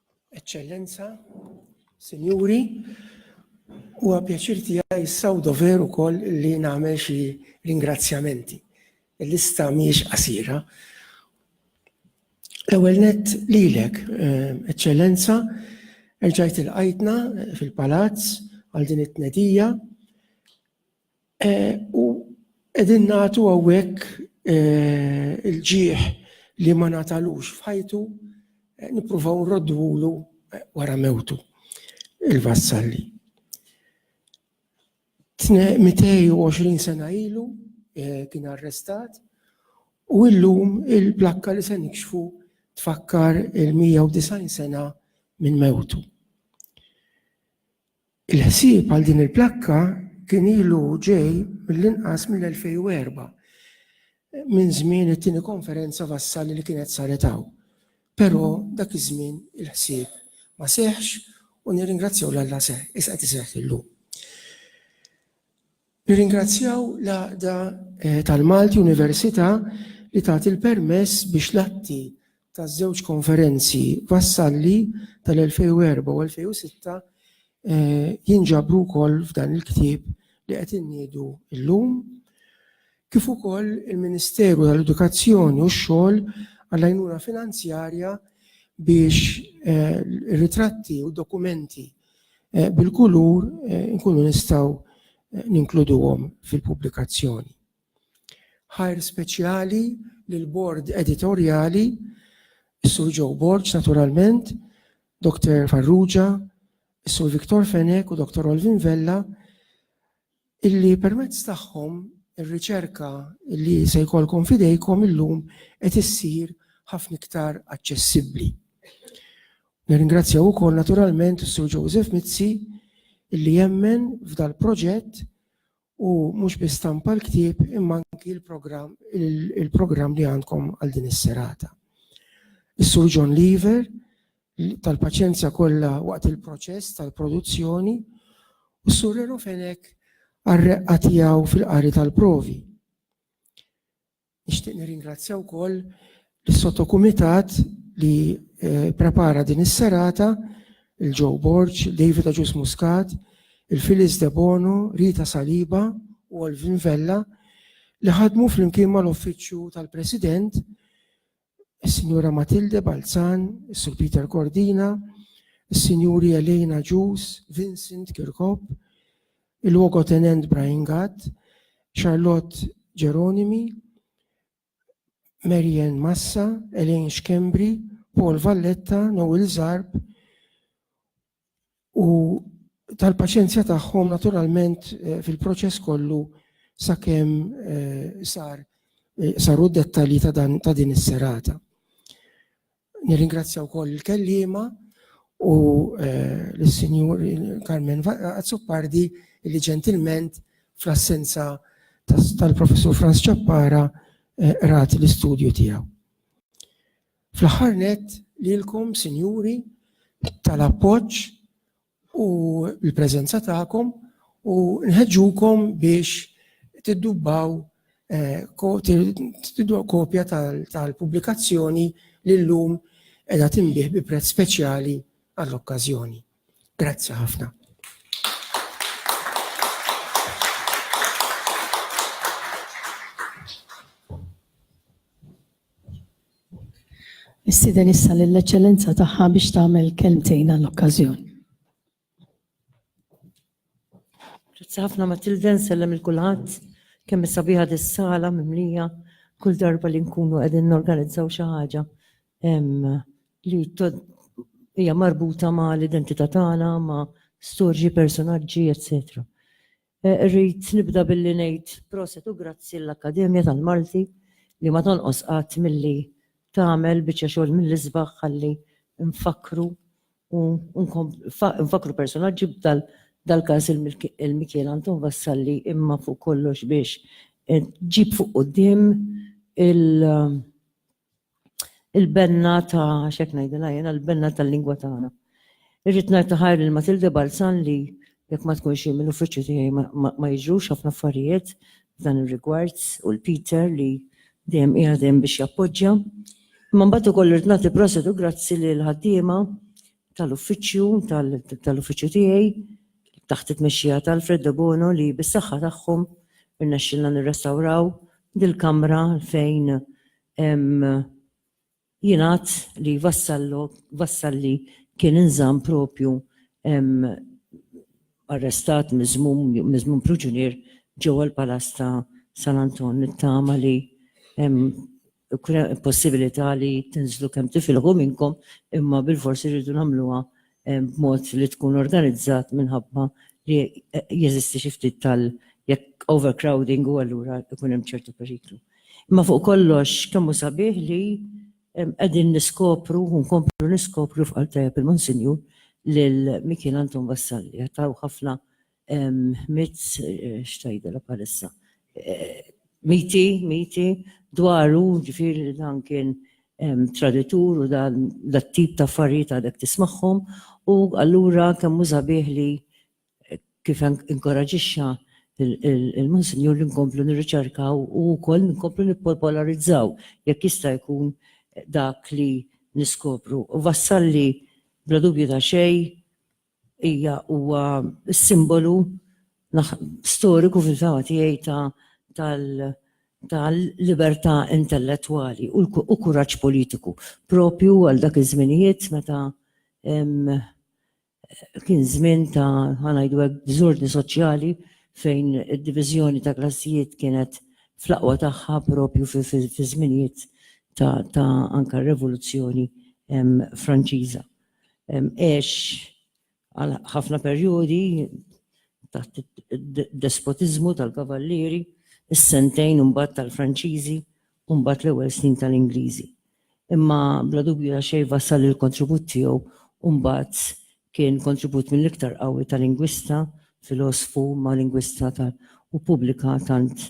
Eċċellenza, Sinjuri, huwa pjaċir tiegħi issa u dover ukoll li nagħmel xi ringrazzjamenti. Il-lista mhijiex qasira. L-ewwel nett lilek, eh, Eċċellenza, erġajt il-qajtna fil-palazz għal din it-tnedija U qegħdin nagħtu hawnhekk il-ġieħ li ma ngħatalux f'ħajtu nippruvaw nrodduhulu wara mewtu il-vassalli. 220 sena ilu eh, kien arrestat u illum il-plakka li se nikxfu tfakkar il-190 sena minn mewtu. Il-ħsieb għal din il-plakka kien ilu ġej mill-inqas mill-2004 minn żmien it-tieni konferenza vassali li kienet saret hawn. Però dak iż-żmien il-ħsieb ma seħħx u nirringrazzjaw 'l Alla seħħ, issa qed iseħħ illum. Nirringrazzjaw l-Għaqda tal-Malti Università li tat il-permess biex l-atti taż-żewġ konferenzi Vassalli tal-2004 u 2006 jinġabru wkoll f'dan il-ktieb li qed inniedu llum, kif ukoll il-Ministeru tal-Edukazzjoni u x-Xogħol għall-għajnuna finanzjarja biex ir-ritratti u d-dokumenti eh, bil-kulur eh, nkunu nistgħu eh, ninkluduhom fil-pubblikazzjoni. Ħajr speċjali l bord editorjali, Sur Joe Borg, naturalment, Dr. Farrugia, Sur Viktor Fenek u Dr. Olvin Vella, illi permezz tagħhom ir-riċerka li se jkollkom f'idejkom illum qed issir ħafna iktar aċċessibbli. Nirringrazzjaw ukoll naturalment is-Sur Joseph Mizzi illi jemmen f'dal-proġett u mhux biss stampa l-ktieb imma anki l-programm il-programm li għandkom għal din is-serata. Is-Sur John Lever tal-paċenzja kollha waqt il-proċess tal-produzzjoni u s-Sur Reno Fenech għar-reqqa tiegħu fil-qari tal-provi. Nixtieq nirringrazzja wkoll lis-sottokumitat li eh, prepara din is-serata il-Joe Borg, David Aġus Muscat, il-Filis De Bono, Rita Saliba u Alvin Vella li ħadmu fl-imkien mal-Uffiċċju tal-President is-Sinjura Matilde Balzan, is-Sur Peter Cordina, is-Sinjuri Elena Ġus, Vincent Kirkop, il-Logotenent Brian Gatt, Charlotte Geronimi, Marian Massa, Elaine Schembri, Paul Valletta, Noel Zarb, u tal-paċenzja tagħhom naturalment eh, fil-proċess kollu sakemm eh, sar eh, saru dettalji ta' dan ta' din is-serata. Nirringrazzja wkoll il-kellima u l-Sinjur Carmen Azzopardi li ġentilment fl-assenza tal-Professur Franz Ċappara rat l-istudju tiegħu. Fl-aħħar nett, lilkom, Sinjuri, tal-appoġġ u l-preżenza tagħkom u nħeġġukom biex tiddubbaw tiddubaw kopja tal-pubblikazzjoni li llum qiegħda tinbiegħ bi prezz speċjali għall-okkażjoni. Grazzi ħafna. Nistieden issa lill-Eċċellenza Tagħha biex tagħmel kelmtejn għall-okkażjoni. Grazzi ħafna Matilde, nsellem lil kulħadd. Kemm hi sabiħa dis-sala mimlija kull darba li nkunu qegħdin norganizzaw xi ħaġa li hija marbuta mal-identità tagħna, ma' storji, personaġġi, eċċetera. Irrid nibda billi ngħid proset u grazzi lill-Akkademja tal-Malti li ma tonqos qatt milli tagħmel biċċa xogħol mill-isbaħ ħalli nfakkru u nfakkru personaġġi bħal dal-każ il-Mikiel Anton Vassalli imma fuq kollox biex ġġib fuq quddiem il- il-benna ta' xek ngħidilha jiena l-benna tal-lingwa tagħna. Irrid ngħid taħar lil Matilde Balzan li jekk ma tkunx hi mill-uffiċċju tiegħi ma jiġrux ħafna affarijiet f'dan ir-rigward u l-Peter li dejjem qiegħed hemm biex jappoġġja. Imma mbagħad ukoll irrid nagħti proset u grazzi lil ħaddiema tal-uffiċċju tal-uffiċċju tiegħi taħt it-tmexxija ta' Alfred Debono li bis-saħħa tagħhom irnexxilna nirrestawraw dil-kamra fejn jingħad li Vassalli kien inżamm propju arrestat, miżmum priġunier ġewwa l-Palazz ta' San Anton. Nittama li Ikun hemm possibilità li tinżlu kemm tifilħu minnkom imma bilfors irridu nagħmluha b'mod li tkun organizzat minħabba li jeżisti xi ftit tal jekk overcrowding u allura ikun hemm ċertu periklu. Imma fuq kollox kemm hu sabiħ li qegħdin niskopru u nkomplu niskopru f'qalb tajjeb il-Monsinjur lil Mikiel Anton Vassalli. Qed taraw ħafna Mitz, xtajdela palissa. Miti, miti, dwaru, ġifir li dan kien traditur u dan l-tip ta' affarijiet għadek tismaħħom u allura kemm uża bih li kif inkoraġixxa il-Monsinjur li nkomplu nirriċerkaw u wkoll nkomplu nippopolarizzaw jekk jista' jkun dak li niskopru. U vassalli bla dubju ta' xejn Hija huwa s-simbolu storiku fil-fehma tiegħi ta' libertà intellettwali u kuraġġ politiku proprju għal dak iż-żminijiet meta kien żmien ta' ħa ngħidu hekk diżordni soċjali fejn id-diviżjoni ta' klassijiet kienet fl-aqwa tagħha proprju fiż-żminijiet ta' anke r-Revoluzzjoni Franċiża. għex għal ħafna perjodi taħt id-despotiżmu tal-Kavallieri, is-sentejn imbagħad tal-Franċiżi u mbagħad l-ewwel snin tal-Ingliżi. Imma bla dubju ta' xejn wassal il-kontribut tiegħu u mbagħad kien kontribut mill-iktar qawwi ta' lingwista, filosfu ma' lingwista u pubblika tant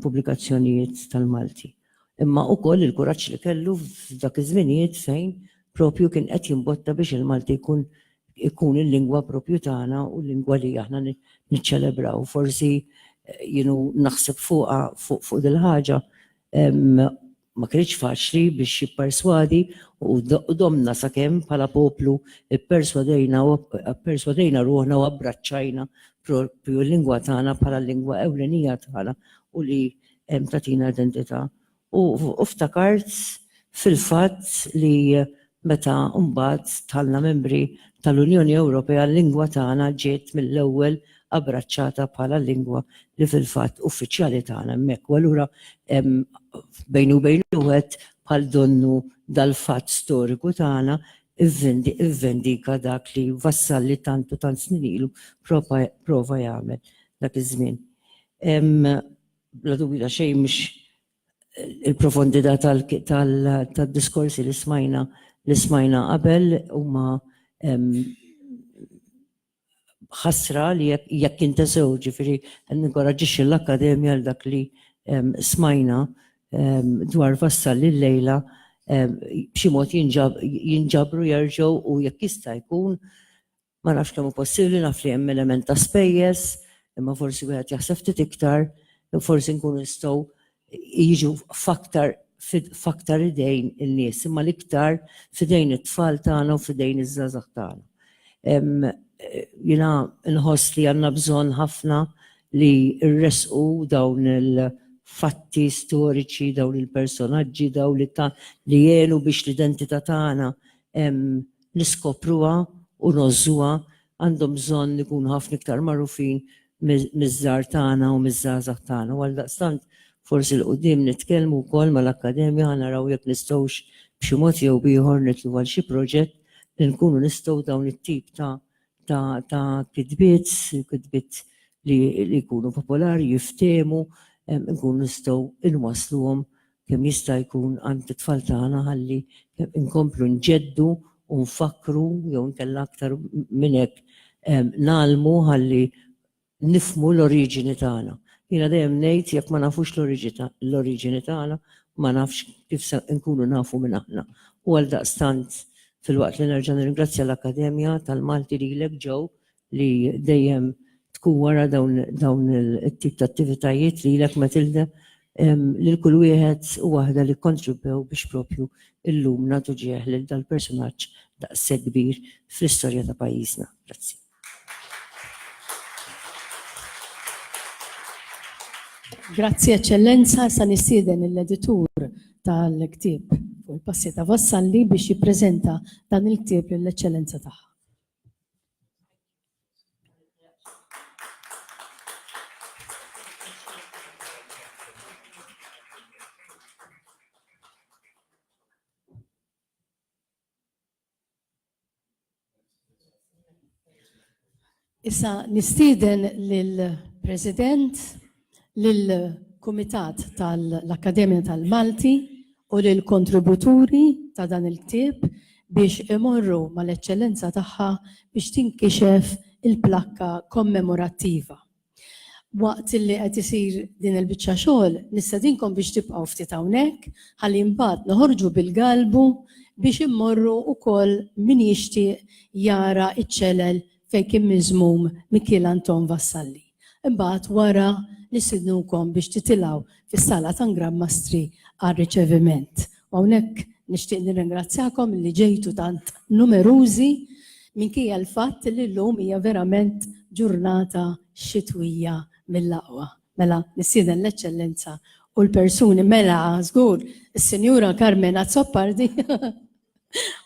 pubblikazzjonijiet tal-Malti. Imma ukoll il-kuraġġ li kellu f'dak iż-żminijiet fejn propju kien qed jimbotta biex il-Malti jkun ikun il-lingwa propju tagħna u l-lingwa li aħna niċċelebraw. Forsi jienu naħseb fuqha fuq dil-ħaġa ma kinitx faċli biex jipperswadi u domna sakemm bħala poplu pperswadejna u pperswadejna ruħna u abbraċċajna propju l-lingwa tagħna bħala l-lingwa ewlenija tagħna u li tagħtina identità. U ftakart fil-fatt li meta mbagħad dħalna membri tal-Unjoni Ewropea l-lingwa tagħna ġiet mill-ewwel abbraċċata bħala l-lingwa li fil-fatt uffiċjali tagħna hemmhekk. U allura bejni u bejn wieħed bħal donnu dal-fatt storiku tagħna ivvendika dak li Vassalli tant u tant snin ilu prova jagħmel dak iż-żmien. Bla dubju ta' xejn mhux il-profondità tal-diskorsi li smajna li smajna qabel huma ħasra li jekk intesew ġifieri ninkoraġġixxi l-Akkademja għal dak li smajna dwar Vassal illejla b'xi mod jinġabru jerġgħu u jekk jista' jkun Ma nafx kemm hu possibbli, naf li hemm element ta' spejjeż, imma forsi wieħed jaħseb ftit iktar, forsi nkunu nistgħu jiġu f'aktar f'aktar idejn in-nies, imma l-iktar f'idejn it-tfal tagħna u f'idejn iż-żgħażagħ tagħna. Jiena nħoss li għandna bżonn ħafna li nressqu dawn il-fatti storiċi, dawn il-personaġġi, dawn li ta li għenu biex l-identità tagħna niskopruha u ngħożżuha għandhom bżonn ikunu ħafna iktar magħrufin miż-żgħar tagħna u miż-żgħażagħ tagħna u għaldaqstant forsi 'l quddiem nitkellmu wkoll mal-Akkademja ħa naraw jekk nistgħux b'xi mod jew b'ieħor nitlu għal xi proġett li nkunu nistgħu dawn it-tip ta' ta' kitbiet, kitbiet li jkunu popolari, jiftehmu, nkunu nistgħu inwassluhom kemm jista' jkun għand it-tfal tagħna ħalli nkomplu nġeddu u nfakkru jew inkella aktar minn hekk ngħallmu ħalli nifhmu l-oriġini tagħna. Jiena dejjem ngħid jekk ma nafux l-oriġini tagħna ma nafx kif se nkunu nafu minn aħna. U għaldaqstant filwaqt li nerġa' nirringrazzja l-Akkademja tal-Malti lilek Joe li dejjem tkun wara dawn it-tip ta' attivitajiet li lek Matilda lil kull wieħed u waħda li kontribwew biex propju illum nagħtu ġieħ lil dal-personaġġ daqshekk kbir fl-istorja ta' pajjiżna. Grazzi. Grazzi Eċċellenza, sa nistieden l-editur tal-ktieb u l-passi ta' Vassalli biex jippreżenta dan il-ktieb lill-Eċċellenza tagħha. Issa nistieden lill-President lill-Kumitat tal-Akkademja tal-Malti u lill-kontributuri ta' dan il-ktieb biex imorru mal-Eċċellenza Tagħha biex tinkixef il-plakka kommemorattiva. Waqt li qed isir din il-biċċa xogħol, nistedinkom biex tibqgħu ftit hawnhekk ħalli mbagħad noħorġu bil-galbu biex immorru wkoll min jixtieq jara ċ-ċelel fejn kien miżmum Mikiel Anton Vassalli. Imbagħad wara nistidnukom biex titilgħu fis-Sala ta' Ngrab Mastri għar-riċeviment. U hawnhekk nixtieq nirringrazzjakom li ġejtu tant numerużi minkejja l-fatt li llum hija verament ġurnata xitwija mill-aqwa. Mela nistieden l-Eċċellenza u l-persuni mela żgur is-Sinjura Carmen Azzopardi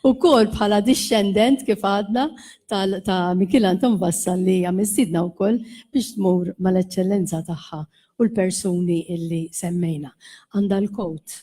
U kol bħala discendent kif għadna ta' Mikil Anton Vassal li hija mistidna wkoll biex tmur mal-eċċellenza tagħha u l-persuni illi semmejna. Għandha l-kowt.